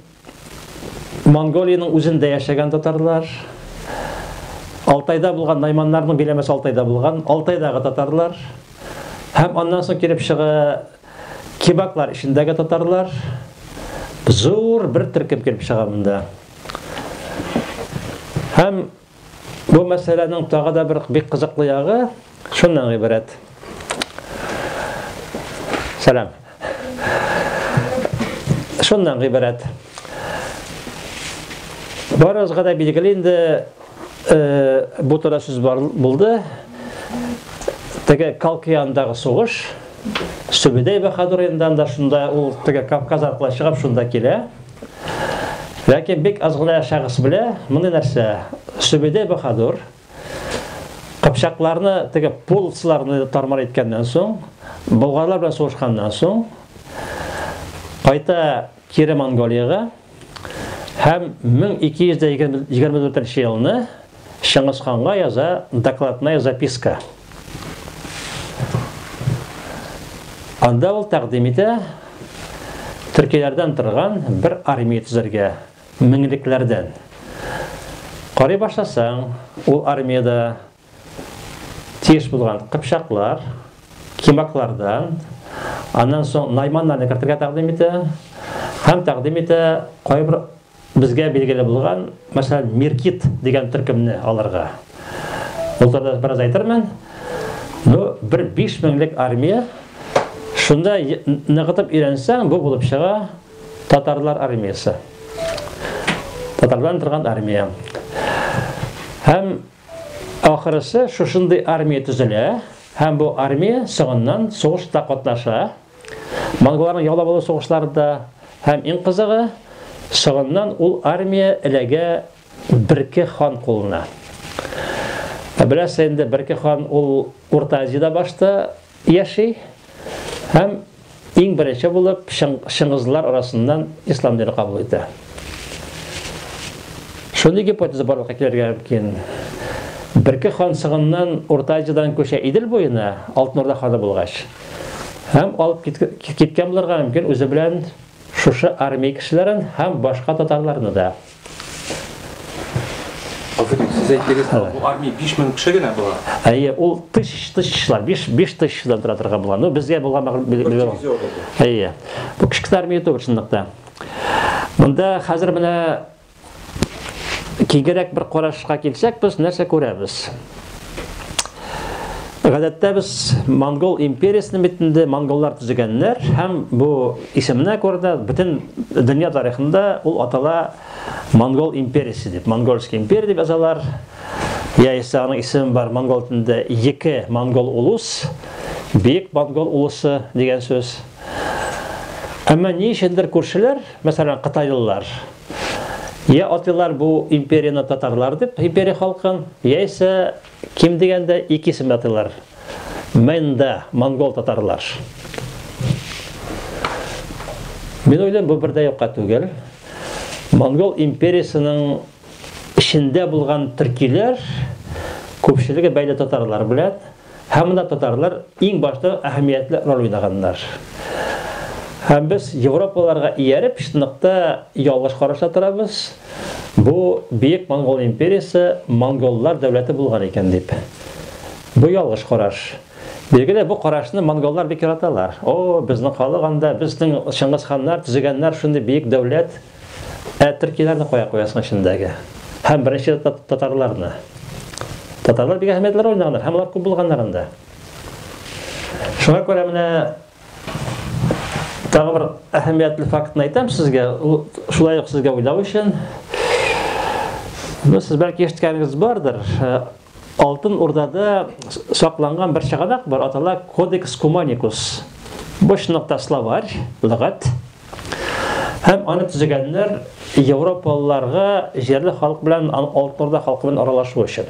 Монголиянең үзендә яшәгән татарлар, Алтайда булган найманнарның биләмәсе Алтайда булган, Алтайдагы татарлар һәм аннан соң килеп чыга Кебаклар эчендәге татарлар зур бер төркем килеп чыга монда. Һәм бу мәсьәләнең тагы да бер бик кызыклы ягы шуннан гыйбарәт. Сәлам. Шуннан гыйбарәт. Барыгызга да билгеле инде бу турыда сүз булды. Теге Калкыяндагы сугыш, Сөбедәй Баһадуриндан да шунда ул теге Кавказ аркылы чыгып шунда килә. Ләкин бик аз гына шәхес белә моны нәрсә? Сөбедәй Баһадур Кыпчакларны теге полцларны тармар иткәннән соң, болгарлар белән сугышканнан соң, кайта Кире Монголиягә һәм 1224 елны Чыңгыз ханга яза докладная записка. Анда ул тәкъдим итә төркиләрдән торган бер армия төзергә, меңлекләрдән. Карый башласаң, ул армиядә тиеш булган кыпчаклар, кимаклардан, аннан соң найманнарны кертергә тәкъдим итә һәм тәкъдим итә кайбер безгә билгеле булган, мәсәлән, Миркит дигән төркемне аларга. Ул турында бераз әйтермен. Ну, бер 5 меңлек армия шунда ныгытып өйрәнсәң, бу булып чыга татарлар армиясе. Татарлар торган армия. Һәм Ахрысы, шушындый армия төзелә һәм бу армия соңыннан сугышта катнаша. Монголларның яулап алу сугышлары да һәм иң кызыгы, соңыннан ул армия эләгә Берке хан кулына. Беләсез инде, Берке хан ул Урта Азиядә башта Яши һәм иң беренче булып чыңгызлылар арасыннан ислам дине кабул итә. Шундый гипотеза барлыкка килергә мөмкин. Берке хан сыгыннан Урта Азиядан күчә Идел буена, Алтын Урда ханы булгач. Һәм алып киткән булырга мөмкин үзе белән шушы армия кешеләрен һәм башка татарларны да. Афәрин, сез әйттегез, бу армия 5000 кеше генә була. Әйе, ул тыш тышчылар, 5 5 тышчыдан тора торган була. Ну, безгә булган мәгълүмат. Әйе. Бу кичке армия түгел чынлыкта. Монда хәзер менә кигерәк бер карашка килсәк, без нәрсә күрәбез? Гадәттә без монгол империясенең бит инде монголлар төзегәннәр һәм бу исеменә күрә дә бөтен дөнья тарихында ул атала монгол империясе дип. Монгольский империя дип язалар. Яисә аның исеме бар монгол телендә Екі монгол улус, Бик монгол улусы дигән сүз. Әмма ни өчендер күршеләр, мәсәлән, кытайлылар, Йә атыйлар бу империяне татарлар дип, империя халкын, яисә ким дигәндә ике исем атыйлар. Мэнда, монгол-татарлар. Мин уйлыйм, бу бер дә юкка түгел. Монгол империясының эчендә булган төркиләр күпчелеге бәйле татарлар белән. Һәм монда татарлар иң башта әһәмиятле роль уйнаганнар. Һәм без европаларга ияреп чынлыкта ялгыш карашта торабыз, бу Бөек Монгол империясе монголлар дәүләте булган икән дип. Бу ялгыш караш. Билгеле, бу карашны монголлар бик яраталар. О, безнең халык анда, безнең Чыңгызханнар, төзегәннәр шундый бөек дәүләт. Ә төркиләрне кая куясың эчендәге? Һәм беренче татарларны. Татарлар бик әһәмиятле роль уйнаганнар, һәм алар күп булганнар анда. Шуңа күрә менә тагы бер әһәмиятле фактны әйтәм сезгә, шулай ук сезгә уйлау өчен. Ну, сез бәлки ишеткәнегез бардыр, Алтын Урдада сакланган бер чыганак бар, атала Кодекс Куманикус. Бу чынлыкта словарь, лыгат. Һәм аны төзегәннәр европалыларга җирле халык белән Алтын Урда халкы белән аралашу өчен.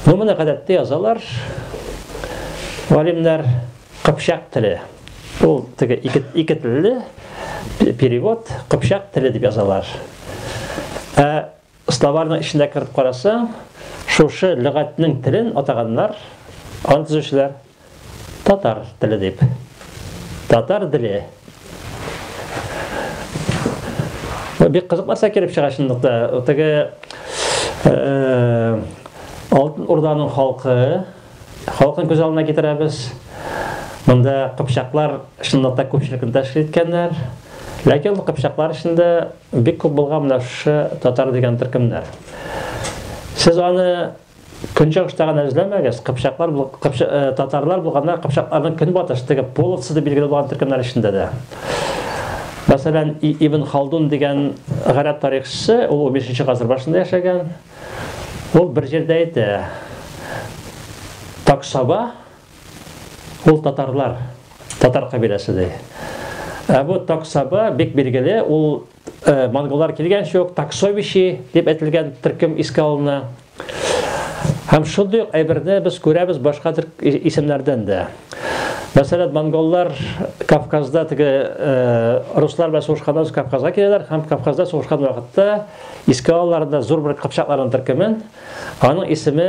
Ну менә гадәттә язалар галимнәр кыпчак теле. Ул теге ике, ике телле перевод кыпчак теле дип язалар. Ә Словарьның эченә кереп карасаң, шушы лөгатьнең телен атаганнар, аны төзүчеләр татар теле дип. Татар деле. Бик кызык нәрсә килеп чыга чынлыкта. Теге Алтын Урданың халкы, халкын күз алдына китерәбез. Монда кыпчаклар чынлыкта күпчелекне тәшкил иткәннәр. Ләкин ул кыпчаклар эчендә Бик күп булган менә шы татар дигән төркемнәр. Сез аны көнчыгышта гына эзләмәгез, кыпчаклар, кыпча, э, татарлар булганнар, кыпчакларның көнбатыш теге половцы дип билгеле булган төркемнәр эчендә дә. Мәсәлән, Ибн Халдун дигән гарәп тарихчысы, ул 15 гасыр башында яшәгән. Ул бер җирдә әйтә. Таксаба Ул татарлар, татар кабиләсе ди. Ә бу Таксаба бик билгеле, ул э, монголлар килгәнче үк Таксовичи дип әйтелгән төркем искә алына. Һәм шундый ук әйберне без күрәбез башка исемнәрдән дә. Мәсәлән, монголлар Кавказда теге э, руслар белән сугышканда Кавказга киләләр һәм Кавказда сугышкан вакытта искә алаларында зур бер кыпчакларның төркемен, аның исеме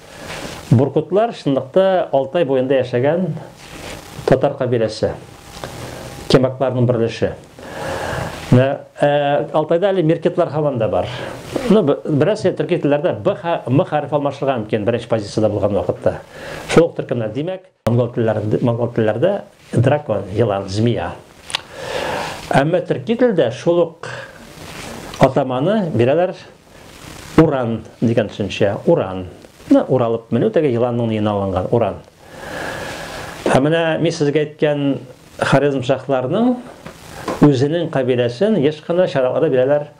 Буркутлар чынлыкта Алтай буенда яшәгән татар кабиләсе. Кемакларның берлеше. Ә, Алтайда әле меркетлар һаман да бар. Ну, бераз төрки телләрдә Б, М хәреф алмашырга мөмкин беренче позицияда булган вакытта. Шул ук төркемнәр. Димәк, Монгол телләрендә, монгол телләрдә дракон, елан, змея. Әмма төрки телдә шул ук атаманы бирәләр уран дигән төшенчә, уран. Менә уралып менү теге еланның ниен алынган, уран. Ә менә мин сезгә әйткән Хорезм шахларының үзенең кабиләсен еш кына чараларда бирәләр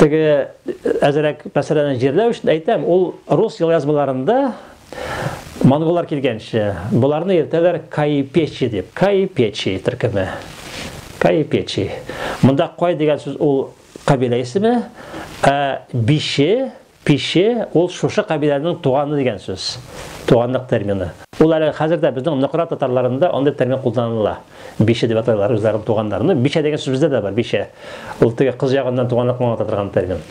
Теге әзерәк мәсьәләне җирләү өчен әйтәм, ул рус елъязмаларында монголлар килгәнче боларны йөртәләр каипечи дип. Каипечи төркеме. Каипечи. Монда кай дигән сүз ул кабилә исеме, ә биши Пише, ул шушы кабиләнең туганы дигән сүз, туганлык термины. Ул әле хәзер дә безнең Нократ татарларында андый термин кулланыла. Биче дип атыйлар үзләренең туганнарын. Ну, бичә дигән сүз бездә дә бар, бичә. Ул теге кыз ягыннан туганлыкны аңлата торган термин.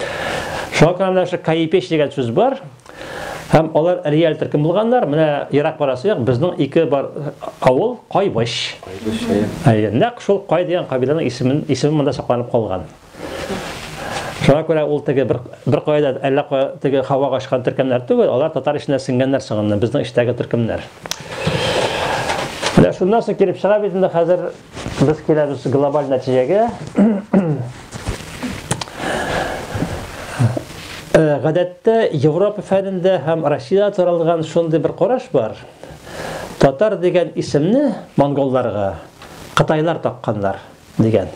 Шуңа күрә менә шул каипеч дигән сүз бар. Һәм алар реаль төркем булганнар. Менә ерак барасы юк, безнең ике бар авыл Кайбыч. Кайбыч, әйе. Әйе, нәкъ шул Кай дигән кабиләнең исемен, исеме монда сакланып калган. Шуңа күрә ул теге бер, бер кайда әллә кая теге һава ашкан төркемнәр түгел, алар татар эченә сеңгәннәр соңыннан, безнең эчтәге төркемнәр. Менә шуннан соң килеп чыга бит инде хәзер без киләбез глобаль нәтиҗәгә. Э, гадәттә Европа фәнендә һәм Россиядә таралган шундый бер караш бар. Татар дигән исемне монголларга кытайлар такканнар. Дигән.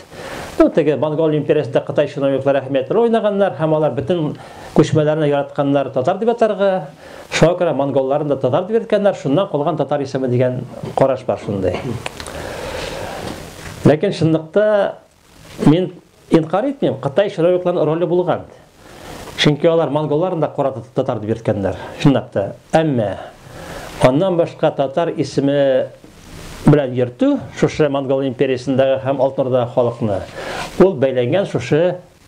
Ну, теге Монгол империясендә Кытай чиновниклары әһәмиятле роль уйнаганнар һәм алар бөтен күчмәләрне яратканнар татар дип атарга. Шуңа күрә монголларын да татар дип йөрткәннәр, шуннан калган татар исеме дигән караш бар шундый. Ләкин чынлыкта мин инкарь итмим, Кытай чиновникларының роле булган. Чөнки алар монголларны да кара татар дип йөрткәннәр, чынлап та. Әмма аннан башка татар исеме белән йөртү шушы монгол империясендәге һәм Алтынордагы халыкны ул бәйләнгән шушы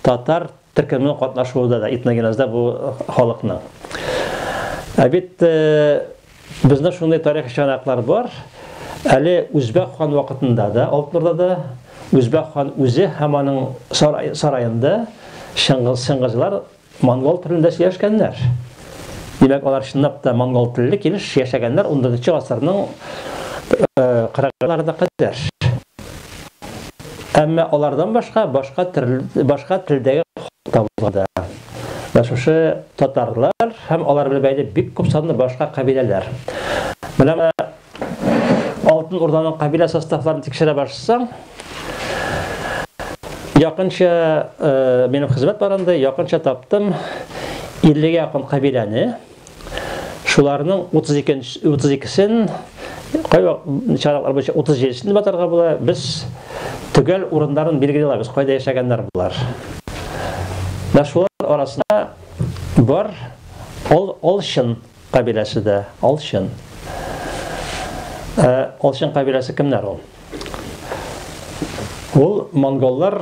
татар төркеменең катнашуында да этногенезда бу халыкның. Ә бит э, Бездә шундый тарихи чыганаклар бар. Әле Үзбәк хан вакытында да, Алтмурда да Үзбәк хан үзе һәм аның сараенда Чыңгыз Чыңгызлар монгол телендә сөйләшкәннәр. Димәк, алар чынлап та монгол телле килеш яшәгәннәр 14 гасырның 40-ларына кадәр. Әмма алардан башка башка башка телдәге халык та булган да. Менә шушы татарлар һәм алар белән бәйле бик күп санлы башка кабиләләр. Менә менә Алтын Урданың кабилә составларын тикшерә башсаң, якынча минем хезмәт барында якынча таптым 50 гә якын кабиләне. Шуларның 32 32-сен кайва чараклар буенча 37-сен дип атарга була. Без төгәл урыннарын билгели алабыз, кайда яшәгәннәр булар. Менә шулар арасында бар Ол Олшын кабиләсе дә, Олшын. Олшын кабиләсе кемнәр ул? Ул монголлар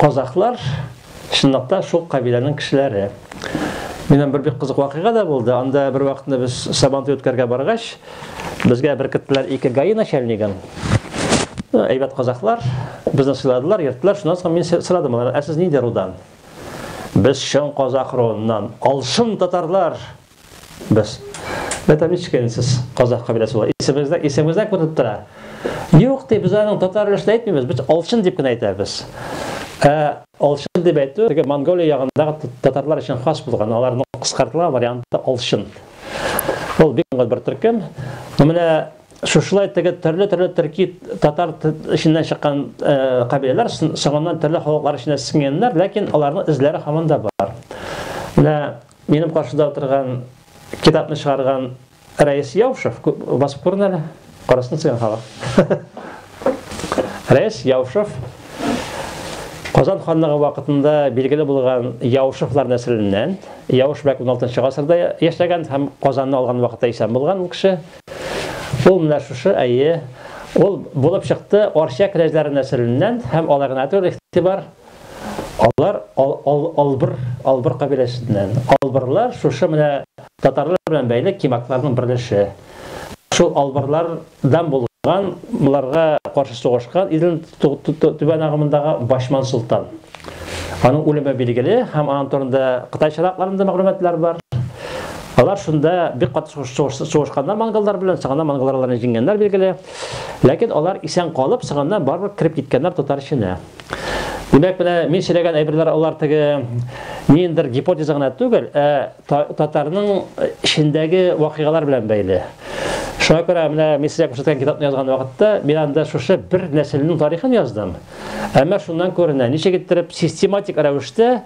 Казахлар чынлап та шул кабиләнең кешеләре. Минем бер бик кызык вакыйга да булды. Анда бер вакытны без Сабантуй үткәргә баргач, безгә беркеттеләр ике гаи начальнигын. Әйбәт казахлар, безне сыйладылар, йөрттеләр. Шуннан соң мин сорадым алардан, ә сез нинди рудан? Без чын казах руыннан, алшын татарлар Без. Металлическая инде сез казах кабиләсе була. Исемегездә, исемегездә күренеп тора. Юк ди, без аның татар өлешен әйтмибез, без алчын дип кенә әйтәбез. Ә алчын дип әйтү теге Монголия ягындагы татарлар өчен хас булган, аларның кыскартылган варианты алчын. Ул бик аңгы бер төркем. Менә шушылай теге төрле-төрле төрки татар эченнән чыккан э, кабиләләр соңыннан төрле халыклар эченә сеңгәннәр, ләкин аларның эзләре һаман да бар. Менә Минем каршыда утырган китапны чыгарган Рәис Яушев, басып күрен әле, карасын сыйган халык. Рәис Яушев, Казан ханлыгы вакытында билгеле булган Яушевлар нәселеннән, Яуш бәк 16 гасырда яшәгән һәм Казанны алган вакытта исән булган ул кеше. Ул менә шушы, әйе, ул булып чыкты Арча князьлары нәселеннән һәм алай гына түгел, игътибар, Алар ал, ал, албыр, албыр кабиләсеннән. Албырлар шушы менә татарлар белән бәйле кимакларның берлеше. Шул албырлардан булган, боларга каршы сугышкан Иделнең түбән агымындагы Башман солтан. Аның үлеме билгеле һәм аның турында Кытай чыракларында мәгълүматлар бар. Алар шунда бик кат сугышканнар монголлар белән, соңыннан монголлар аларны җиңгәннәр билгеле. Ләкин алар исән калып, соңыннан барыбер кереп киткәннәр татар эченә. Димәк, менә мин сөйләгән әйберләр алар теге ниндер гипотеза гына түгел, ә татарның эчендәге вакыйгалар белән бәйле. Шуңа күрә менә мин сезгә күрсәткән китапны язган вакытта мин анда шушы бер нәселнең тарихын яздым. Әмма шуннан күренә, ничек иттереп систематик рәвештә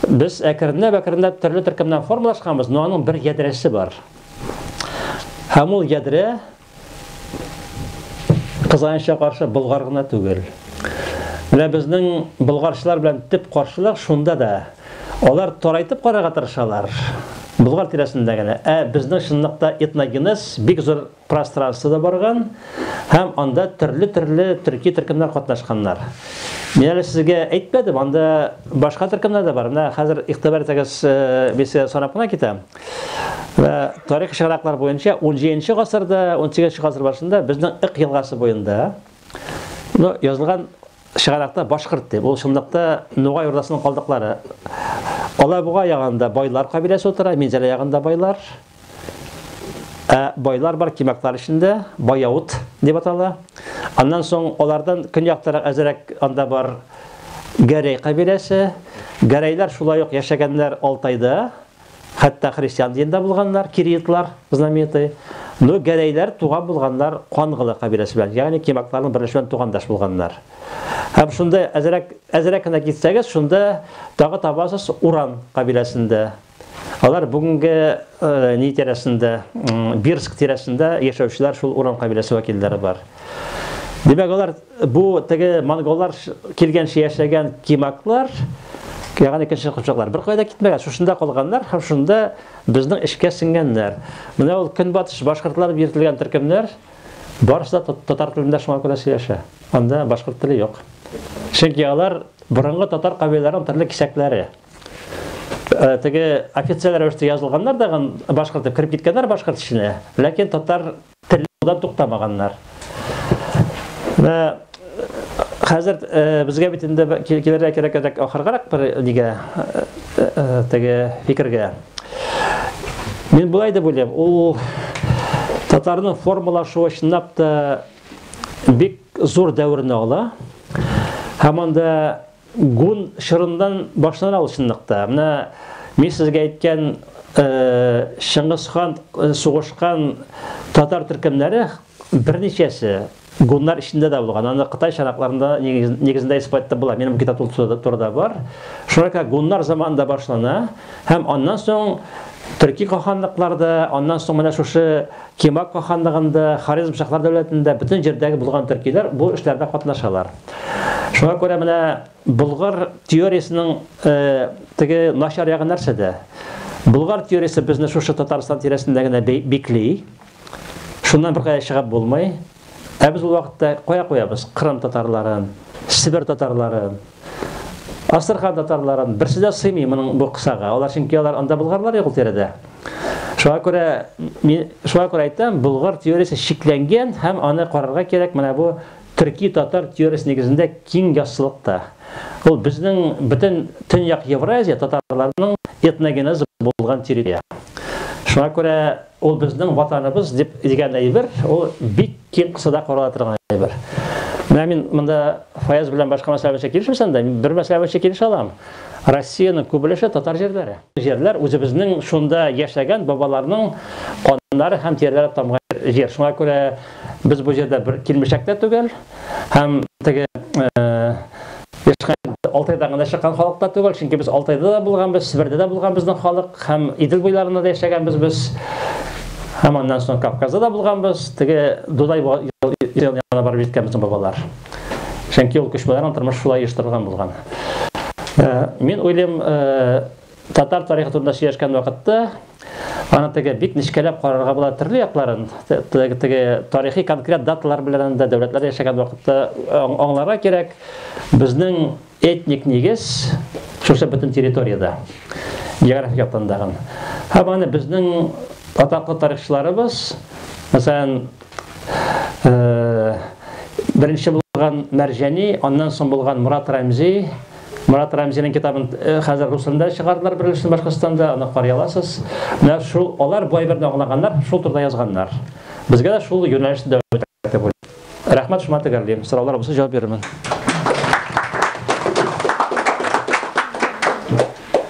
без әкренләп-әкренләп төрле төркемнән формалашканбыз, но аның бер ядрәсе бар. Һәм ул ядрә Кызганычка каршы Болгар гына түгел. Менә безнең болгарчылар белән төп каршылык шунда да. Алар тарайтып карарга тырышалар. Болгар тирәсендә генә. Ә безнең чынлыкта этногенез бик зур пространствода барган һәм анда төрле-төрле төрки төркемнәр катнашканнар. Мин әле сезгә әйтмәдем, анда башка төркемнәр дә бар. Менә хәзер игътибар итегез, мин э, сезгә санап кына китәм. Вә тарих чыганаклар буенча 17 гасырда, 18 гасыр башында безнең Ик елгасы буенда ну, язылган чыганакта башкорт дип, ул шундыкта Нугай урдасының калдыклары. Алабуга ягында байлар кабиләсе утыра, Минзәлә ягында байлар. Ә байлар бар кимәкләр эчендә, Баяут дип атала. Аннан соң алардан көньяктарак әзерәк анда бар Гәрәй кабиләсе. Гәрәйләр шулай ук яшәгәннәр Алтайда, Хәтта христиан динендә булганнар, кириидлар, знаменитый. Ну, гәрәйләр туган булганнар Кангылы кабиләсе белән, ягъни кимакларның беренче белән тугандаш булганнар. Һәм шунда әзрәк, әзрәк кенә китсәгез, шунда тагы табасыз Уран кабиләсендә. Алар бүгенге э, ни тирәсендә, Бирск тирәсендә яшәүчеләр шул Уран кабиләсе вәкилләре бар. Димәк, алар Бу теге монголлар килгәнче яшәгән кимаклар, ягъни икенче курчаклар. Бер кайда китмәгән, шушында калганнар һәм шунда безнең эшкә сеңгәннәр. Менә ул көнбатыш башкортлары биртелгән төркемнәр барысы да татар телендә шуңа күрә сөйләшә. Анда башкорт теле юк. Чөнки алар борынгы татар кабиләләренең төрле кисәкләре. Э, теге официаль рәвештә язылганнар да башкорт дип кереп киткәннәр башкорт эченә, ләкин татар Телләүдән туктамаганнар. Менә хәзер безгә бит инде килергә кирәк-кирәк ахыргарак бер нигә теге фикергә. Мин булай дип уйлыйм, ул татарның формалашуы чынлап та бик зур дәверне ала. Һәм анда Гун чорыннан башланыр ул чынлыкта. Менә мин сезгә әйткән Чыңгыз хан сугышкан татар төркемнәре берничәсе гуннар эчендә дә булган. Аны Кытай чаракларында нигезендә исбатлап була. Минем китап турыда бар. Шуңа күрә гуннар заманында башлана һәм аннан соң төрки каханлыкларда, аннан соң менә шушы Кемак каханлыгында, Хорезм шаһлар дәүләтендә, бөтен җирдәге булган төркиләр бу эшләрдә катнашалар. Шуңа күрә менә Болгар теориясенең теге начар ягы нәрсәдә? Болгар теориясе безне шушы Татарстан тирәсендә генә бикли. Шуннан беркая чыгып булмый. Ә без ул вакытта кая куябыз? Кырым татарларын, Себер татарларын, Астрхан татарларын берсе дә сыймый моның бу кысага. Алар чөнки алар анда булганнар юк тирәдә. Шуңа күрә мин шуңа күрә әйтәм, Болгар теориясе чикләнгән һәм аны карарга кирәк менә бу төрки татар теориясе нигезендә киң яссылыкта. Ул безнең бөтен төньяк Евразия татарларының этногенезы булган территория. Шуңа күрә Ул безнең ватаныбыз дип дигән әйбер, ул бик киң кысада карала торган әйбер. Менә мин монда Фаяз белән башка мәсьәлә буенча килешмәсәм дә, мин бер мәсьәлә буенча килешә алам. Россиянең күп өлеше татар җирләре. Җирләр үзебезнең шунда яшәгән бабаларның каннары һәм тирләре тамган җир. Шуңа күрә без бу җирдә бер килмешәк тә түгел һәм теге э, Юкка инде Алтайда гына чыккан халык та түгел, чөнки без Алтайда да булганбыз, Себердә дә булган безнең халык һәм Идел буйларында да яшәгәнбез без. Һәм аннан соң Кавказда да булганбыз, теге Дудай янына барып җиткән безнең бабалар. Чөнки ул күчмәләрнең тормышы шулай оештырылган булган. Мин уйлыйм, Татар тарихы турында сөйләшкән вакытта аны теге бик нечкәләп карарга була төрле якларын теге, теге тарихи конкрет даталар белән дә дәүләтләр яшәгән вакытта аңларга кирәк безнең этник нигез шушы бөтен территорияда географик яктан да һәм аны безнең атаклы тарихчыларыбыз мәсәлән э, беренче булган Мәрҗәни, аннан соң булган Мурат Рәмзи, Марат Рәмзинең китабын хәзер рус телендә чыгардылар беренче Башкортстанда, аны карый аласыз. Менә шул алар бай берне аңлаганнар, шул турыда язганнар. Безгә дә шул юнәлешне дәвам итәргә дип уйлыйм. Рәхмәт, шуңа төгәллим. Сораулар булса җавап бирермен.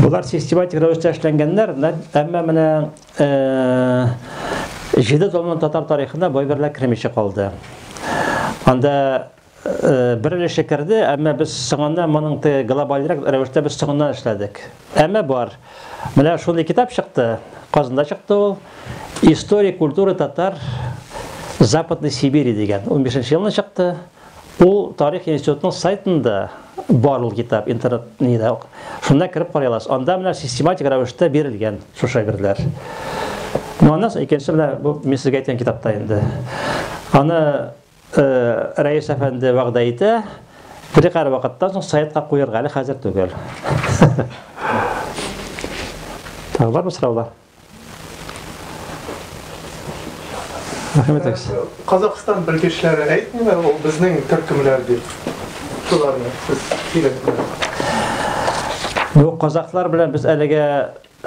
Болар систематик рәвештә эшләнгәннәр, әмма менә җиде томның татар тарихына бай берләр кермичә калды. Анда бер өлеше керде, әмма без соңыннан моның глобальрак рәвештә без соңыннан эшләдек. Әмма бар. Менә шундый китап чыкты, Казанда чыкты ул. История культуры татар Западной Сибири дигән 15 елны чыкты. Ул тарих институтының сайтында бар ул китап, интернет нидә. Шунда кереп карый аласыз. Анда менә систематик рәвештә бирелгән шул шәгырьләр. Ну, аннан соң икенче менә бу мин сезгә әйткән китапта инде. Аны э, Рәис әфәнде вәгъдә итә, бер кара вакыттан соң сайтка куярга әле хәзер түгел. Тагы бармы сораулар? Рәхмәт әкс. Казакъстан белгечләре әйтмиме, ул безнең төркемләр дип. Шуларны сез киләсезме? Бу казакълар белән без әлегә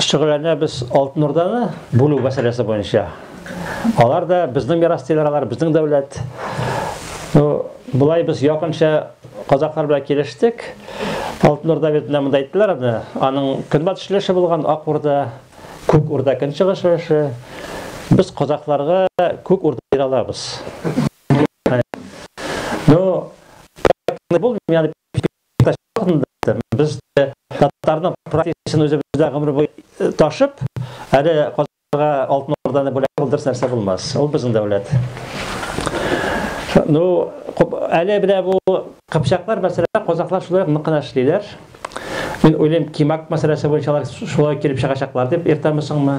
шөгыльләнәбез Алтын Урданы бүлү мәсьәләсе буенча. Алар да безнең мирас тиләр, алар безнең дәүләт. Ну, болай без якынча Казаклар белән килештек. Алтын Урда бит менә монда әйттеләр аны. Аның көнбатыш өлеше булган Ак Урда, Күк Урда көнчыгыш өлеше. Без казакларга Күк Урда бирә алабыз. Ну, бул мені без татарның практикасын үзебездә гомер буе ташып, әле Аларга алтын орданы бүләк кылдырс нәрсә булмас. Ул безнең дәүләт. Ну, әле менә бу кыпчаклар мәсьәләсендә казахлар шулай ук нык кына эшлиләр. Мин уйлыйм, Кимак мәсьәләсе буенча алар шулай килеп чыгачаклар дип, иртәме-соңмы.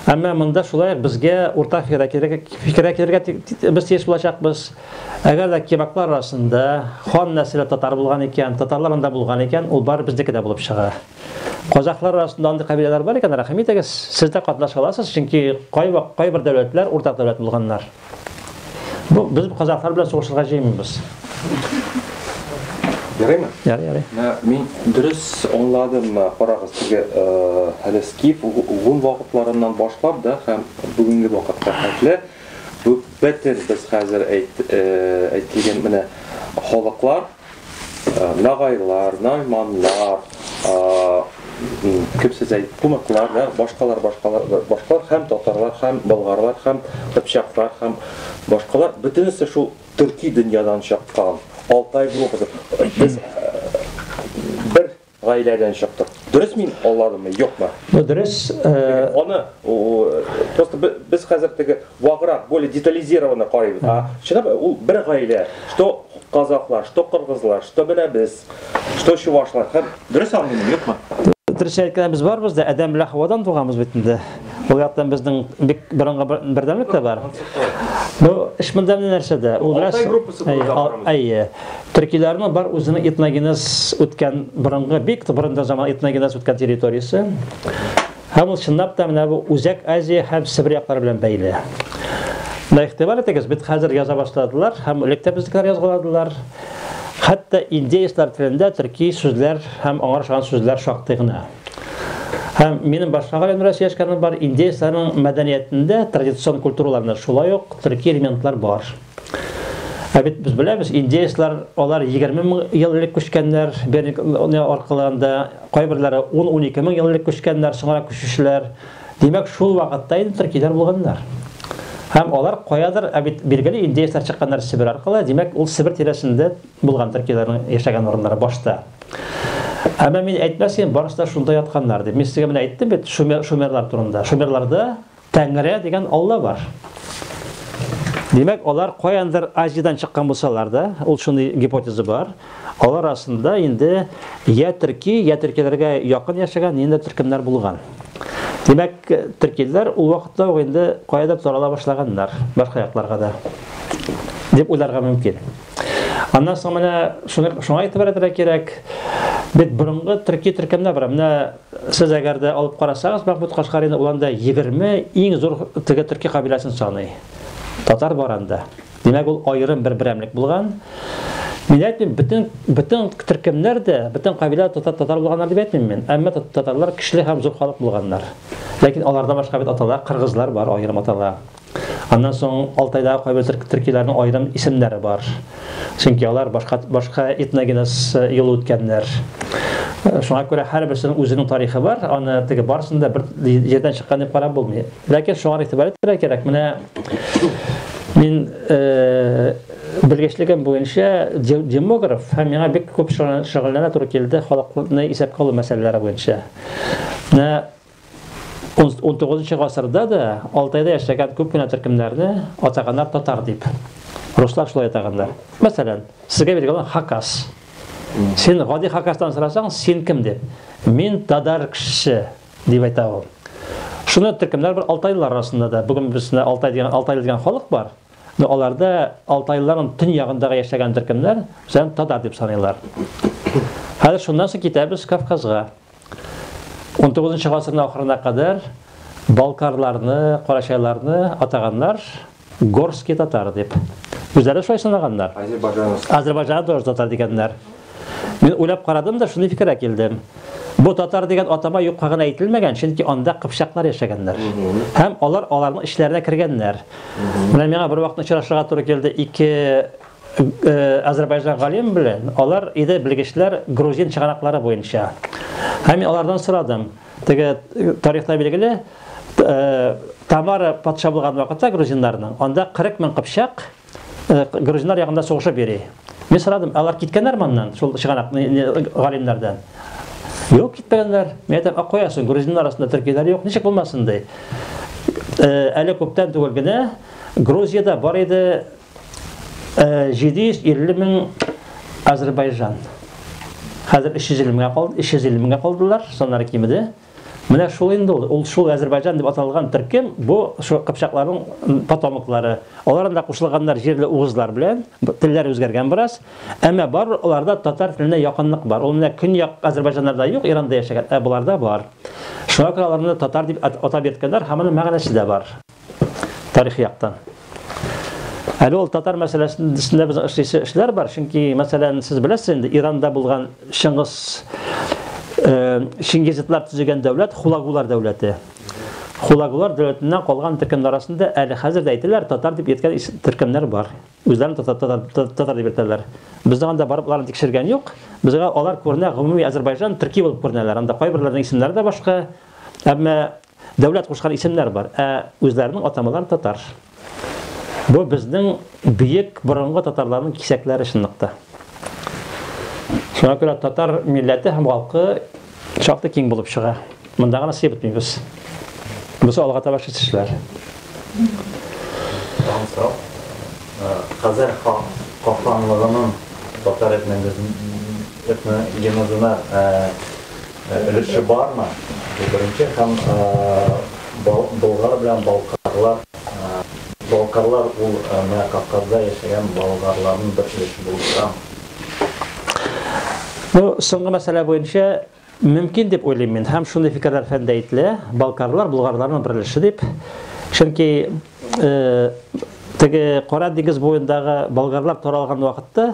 Әмма монда шулай ук безгә уртак фикергә килергә, фикергә килергә без тиеш булачакбыз. Әгәр дә кимаклар арасында хан нәселе татар булган икән, татарлар анда булган икән, ул бары безнеке дә булып чыга. Казахлар арасында андый кабиләләр бар икән, рәхим итегез, сез дә катнаша аласыз, чөнки кайвак кайбер дәүләтләр уртак дәүләт булганнар. Бу без казахлар белән сугышырга җыенмыйбыз. Ярыймы? Ярый, ярый. Ә, мин дөрес аңладыммы? Карагыз, теге әле скиф гун вакытларыннан башлап да һәм бүгенге вакытка хәтле бу бөтен без хәзер әйт әйтелгән менә халыклар Нагайлар, найманнар, кем сез әйт, кунаклар, да, башкалар, башкалар, башкалар һәм татарлар, һәм болгарлар, һәм кыпчаклар, һәм башкалар, бөтенесе шул төрки дөньядан чыккан, Алтай группасы. Без бер Гаиләдән чыктык. Дөрес мин алладымы, юкмы? Ну, дөрес. Аны просто без хәзер теге ваграк, более детализированно карыйбыз. А чынлап ул бер гаилә, что казахлар, что кыргызлар, что менә без, что чувашлар. Дөрес аңлыймы, юкмы? Дөрес әйткәндә без барбыз да Адәм белән Хавадан туганбыз бит инде. Ул яктан безнең бик борынгы бердәмлек тә бар. Ну, эш монда нәрсәдә? Ул Алтай группасы буларак карамыз. Әйе. Төркиләрнең бар үзенең этногенез үткән борынгы бик борында заман этногенез үткән территориясе. Һәм ул чынлап та менә бу Үзәк Азия һәм Себер яклары белән бәйле. Менә игътибар итегез, бит хәзер яза башладылар һәм элек тә безнекеләр язгаладылар. Хәтта индеецлар телендә төрки сүзләр һәм аңа ошаган сүзләр шактый гына. Һәм минем башка галимнәр сөйләшкәнем бар, индеецларның мәдәниятендә традицион культураларында шулай ук төрки элементлар бар. Ә бит без беләбез, индеецлар, алар 20 мең ел элек күчкәннәр, Беринг аркыларында, кайберләре 10-12 мең ел элек күчкәннәр, соңрак күчүчеләр. Димәк, шул вакытта инде төркиләр булганнар. Һәм алар каядыр, ә бит билгеле индеецлар чыкканнар Себер аркылы, димәк, ул Себер тирәсендә булган төркиләрнең яшәгән урыннары башта. Әмма мин әйтмәс идем, барысы да шунда ятканнар дип. Мин сезгә менә әйттем бит шумерлар турында. Шумерларда Тәңре дигән Алла бар. Димәк, алар каяндыр Азиядән чыккан булсалар да, ул шундый гипотеза бар. Алар арасында инде я төрки, я төркиләргә якын яшәгән инде төркемнәр булган. Димәк, төркиләр ул вакытта ук инде каядыр тарала башлаганнар, башка якларга да. Дип уйларга мөмкин. Аннан соң менә шуңа итеп кирәк. Бит борынгы төрки төркемнәр бар. Менә Сез әгәр дә алып карасагыз, Мәхмүт Кашгарины, ул анда 20 иң зур теге төрки кабиләсен саный. Татар бар анда. Димәк, ул аерым бер берәмлек булган. Мин әйтмим, бөтен бөтен төркемнәр дә, бөтен кабилә татар татар булганнар дип әйтмим мин. Әмма татарлар көчле һәм зур халык булганнар. Ләкин аларда башка бит аталар, кыргызлар бар, аерым атала. Аннан соң Алтайдагы кайбер төркиләрнең аерым исемнәре бар. Чөнки алар башка башка этногенез э, юлы үткәннәр. Э, шуңа күрә һәрберсенең үзенең тарихы бар. Аны теге барысын да бер җирдән чыккан дип карап булмый. Ләкин шуңа игътибар итәргә кирәк. Менә мин э, белгечлегем буенча демограф һәм миңа бик күп шөгыльләнә туры килде халыкны исәпкә алу мәсьәләләре буенча. Менә XIX гасырда да Алтайда яшәгән күп кенә төркемнәрне атаганнар татар дип. Руслар шулай атаганнар. Мәсәлән, сезгә биргән хакас. Син гади хакастан сорасаң, син кем дип? Мин тадар кешесе дип әйтә ул. Шуны төркемнәр бар алтайлылар арасында да. Бүген безне алтай дигән алтай дигән халык бар. Но аларда алтайлыларның төньягындагы яшәгән төркемнәр үзен татар дип саныйлар. Хәзер шуннан соң китәбез Кавказга. 19 гасырның ахырына кадәр балкарларны, карачайларны атаганнар горский татар дип. Үзләре шулай санаганнар. Азербайжан тоже татар дигәннәр. Мин уйлап карадым да, шундый фикергә килдем. Бу татар дигән атама юкка гына әйтелмәгән, чөнки анда кыпчаклар яшәгәннәр. Һәм алар аларның эчләренә кергәннәр. Менә миңа бер вакытны очрашырга туры килде ике Э, Азербайжан галим белән алар иде белгечләр грузин чыганаклары буенча. Һәм мин алардан сорадым. Теге э, тарихта билгеле э, Тамара патша булган вакытта грузиннарның анда 40 мең кыпчак грузиннар ягында сугышып йөри. Мин сорадым, алар киткәннәр моннан, шул чыганак галимнәрдән. Юк, китмәгәннәр. Мин әйтәм, а куясың, грузиннар арасында төркиләр юк, ничек булмасын ди. Әле күптән түгел генә Грузияда бар иде 750 э, мең Азербайжан. Хәзер 350 меңгә калды, 350 меңгә калдылар, саннары кимеде. Менә шул инде ул, ул шул Азербайжан дип аталган төркем, бу шул кыпчакларның потомоклары. Алар анда кушылганнар җирле угызлар белән, телләр үзгәргән бераз. Әмма бар аларда татар теленә якынлык бар. Ул менә көньяк Азербайҗаннарда юк, Иранда яшәгән, ә боларда бар. Шуңа күрә аларны татар дип атап йөрткәннәр, һәм аның мәгънәсе дә бар. тарихи яктан. Әле ул татар мәсьәләсендә без эшлисе эшләр бар, чөнки мәсәлән, сез беләсез инде, Иранда булган Чыңгыз э, Чингизитлар төзегән дәүләт Хулагулар дәүләте. Хулагулар дәүләтеннән калган төркемнәр арасында әле хәзер дә әйтәләр, татар дип йөрткән төркемнәр бар. Үзләрен татар, татар, татар, татар дип йөртәләр. Безнең анда барып аларны тикшергән юк. Безгә алар күренә гомуми Азәрбайҗан төрки булып күренәләр. Анда кайберләрнең исемнәре дә башка. Әмма Дәүләт кушкан исемнәр бар, ә үзләренең атамалары татар. Бу безнең бөек борынгы татарларның кисәкләре чынлыкта. Шуңа күрә татар милләте һәм халкы шактый киң булып чыга. Монда гына сыеп бетмибез. Бусы алга таба шул эшләр. Хәзер халыкларның татар этногенезына Өлеше бармы? Беренче һәм Болгар белән Балкарлар Балкарлар ул менә Кавказда яшәгән болгарларның бер өлеше булып торамы? Бу соңгы мәсьәлә буенча мөмкин дип уйлыйм мин һәм шундый фикерләр фәндә ителә, Балкарлар болгарларның бер өлеше дип. Чөнки теге Кара диңгез буендагы болгарлар таралган вакытта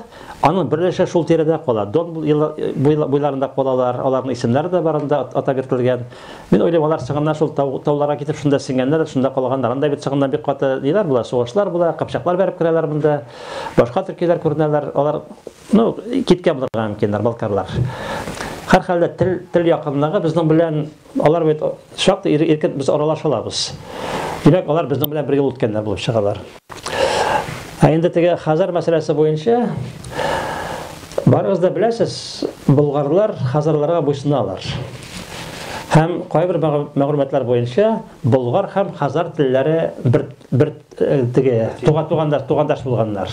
аның берлеше шул тирәдә кала. Дон буйларында калалар, аларның исемнәре дә барында атап йөртелгән. Мин уйлыйм, алар чыгыннан шул тауларга китеп шунда сиңгәннәр, шунда калганнар. Анда бит чыгыннан бик каты ниләр була, сугышлар була, кыпчаклар бәреп керәләр монда. Башка төркиләр күренәләр. Алар, ну, киткән булырга мөмкиннәр, балкарлар. Һәрхәлдә тел тел якынлыгы безнең белән Алар бит шактый ир- иркен без аралаша алабыз. Димәк, алар безнең белән бергә үткәннәр булып чыгалар. Ә инде теге Хазар мәсьәләсе буенча, барыгыз да беләсез, болгарлар хазарларга буйсыналар. Һәм кайбер мәгъ- мәгълүматлар буенча, болгар һәм хазар телләре бер, бер э, теге туган, тугандаш, тугандаш булганнар.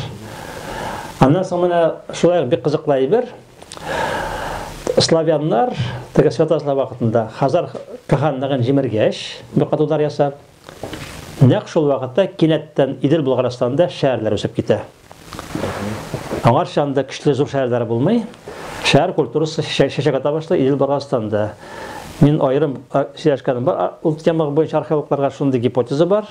Аннан соң менә шулай ук бик кызыклы әйбер. Славяннар теге святазлар вакытында Хазар каханлыгын җимергәч, бакатулар ясап, нәкъ шул вакытта кинәттән Идел Болгарстанда шәһәрләр үсеп китә. Аңар шанда көчле зур шәһәрләр булмый. Шәһәр культурасы шәшәгә табышлы Идел Болгарстанда. Мин аерым сөйләшкәнем бар ул темага буенча археологларга шундый гипотеза бар.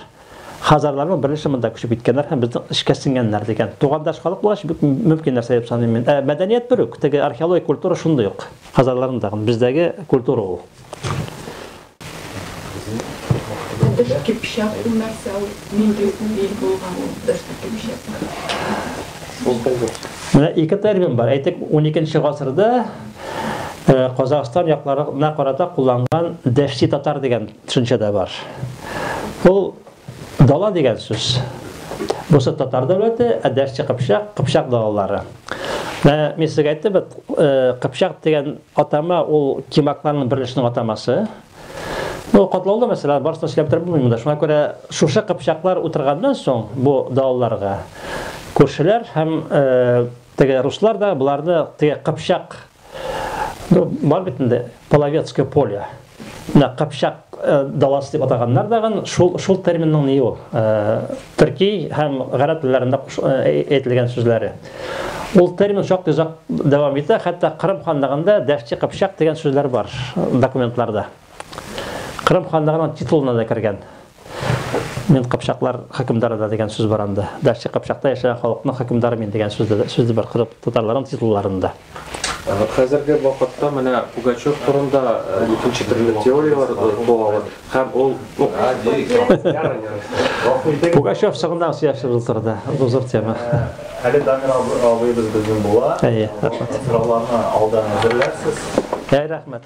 Хазарларның беренче монда күчеп киткәннәр һәм безнең эшкә сеңгәннәр дигән. Тугандаш халык булгач, бик мөмкин нәрсә дип саныйм мин. Ә мәдәният бер үк, теге археологик культура шундый ук. Хазарларның да бездәге культура ул. Дәш кипшәк ул нәрсә ул? Нинди ил булган ул дәш кипшәк? Менә ике термин бар. Әйтик, 12 гасырда Казахстан якларына карата кулланган дәшти татар дигән Төшенчә дә бар. Ул дала дигән сүз. Бусы татар дәүләте, ә дәшче кыпчак, кыпчак далалары. Ә, мин сезгә әйттем бит, э, кыпчак дигән атама ул кимакларның берлешенең атамасы. Ну, катлаулы мәсьәлә, барысын сөйләп торып булмый монда. Шуңа күрә шушы кыпчаклар утырганнан соң бу далаларга күршеләр һәм э, теге руслар да буларны теге кыпчак Ну, бар бит инде половецкое поле. Менә кыпчак э, даласы дип атаганнар да шул шул терминның ни ул? Э, төрки һәм гарәп телләрендә э, әйтелгән сүзләре. Ул термин шактый озак дәвам итә, хәтта Кырым ханлыгында Дәфчи кыпчак дигән сүзләр бар документларда. Кырым ханлыгының титулына да кергән. Мин кыпчаклар хөкемдары да дигән сүз бар анда. Дәшче кыпчакта яшәгән халыкның хөкемдары мин дигән сүз дә сүз бар кырып татарларның титулларында. Хәзерге вакытта менә Пугачев турында икенче төрле теорияләр туалар һәм ул Пугачев сагындан сөйләшеп утырды. Бу зур тема. Әле Дамир абыебыз безнең була. Әйе, рәхмәт. Сорауларны алдан әзерләрсез. Әй, рәхмәт.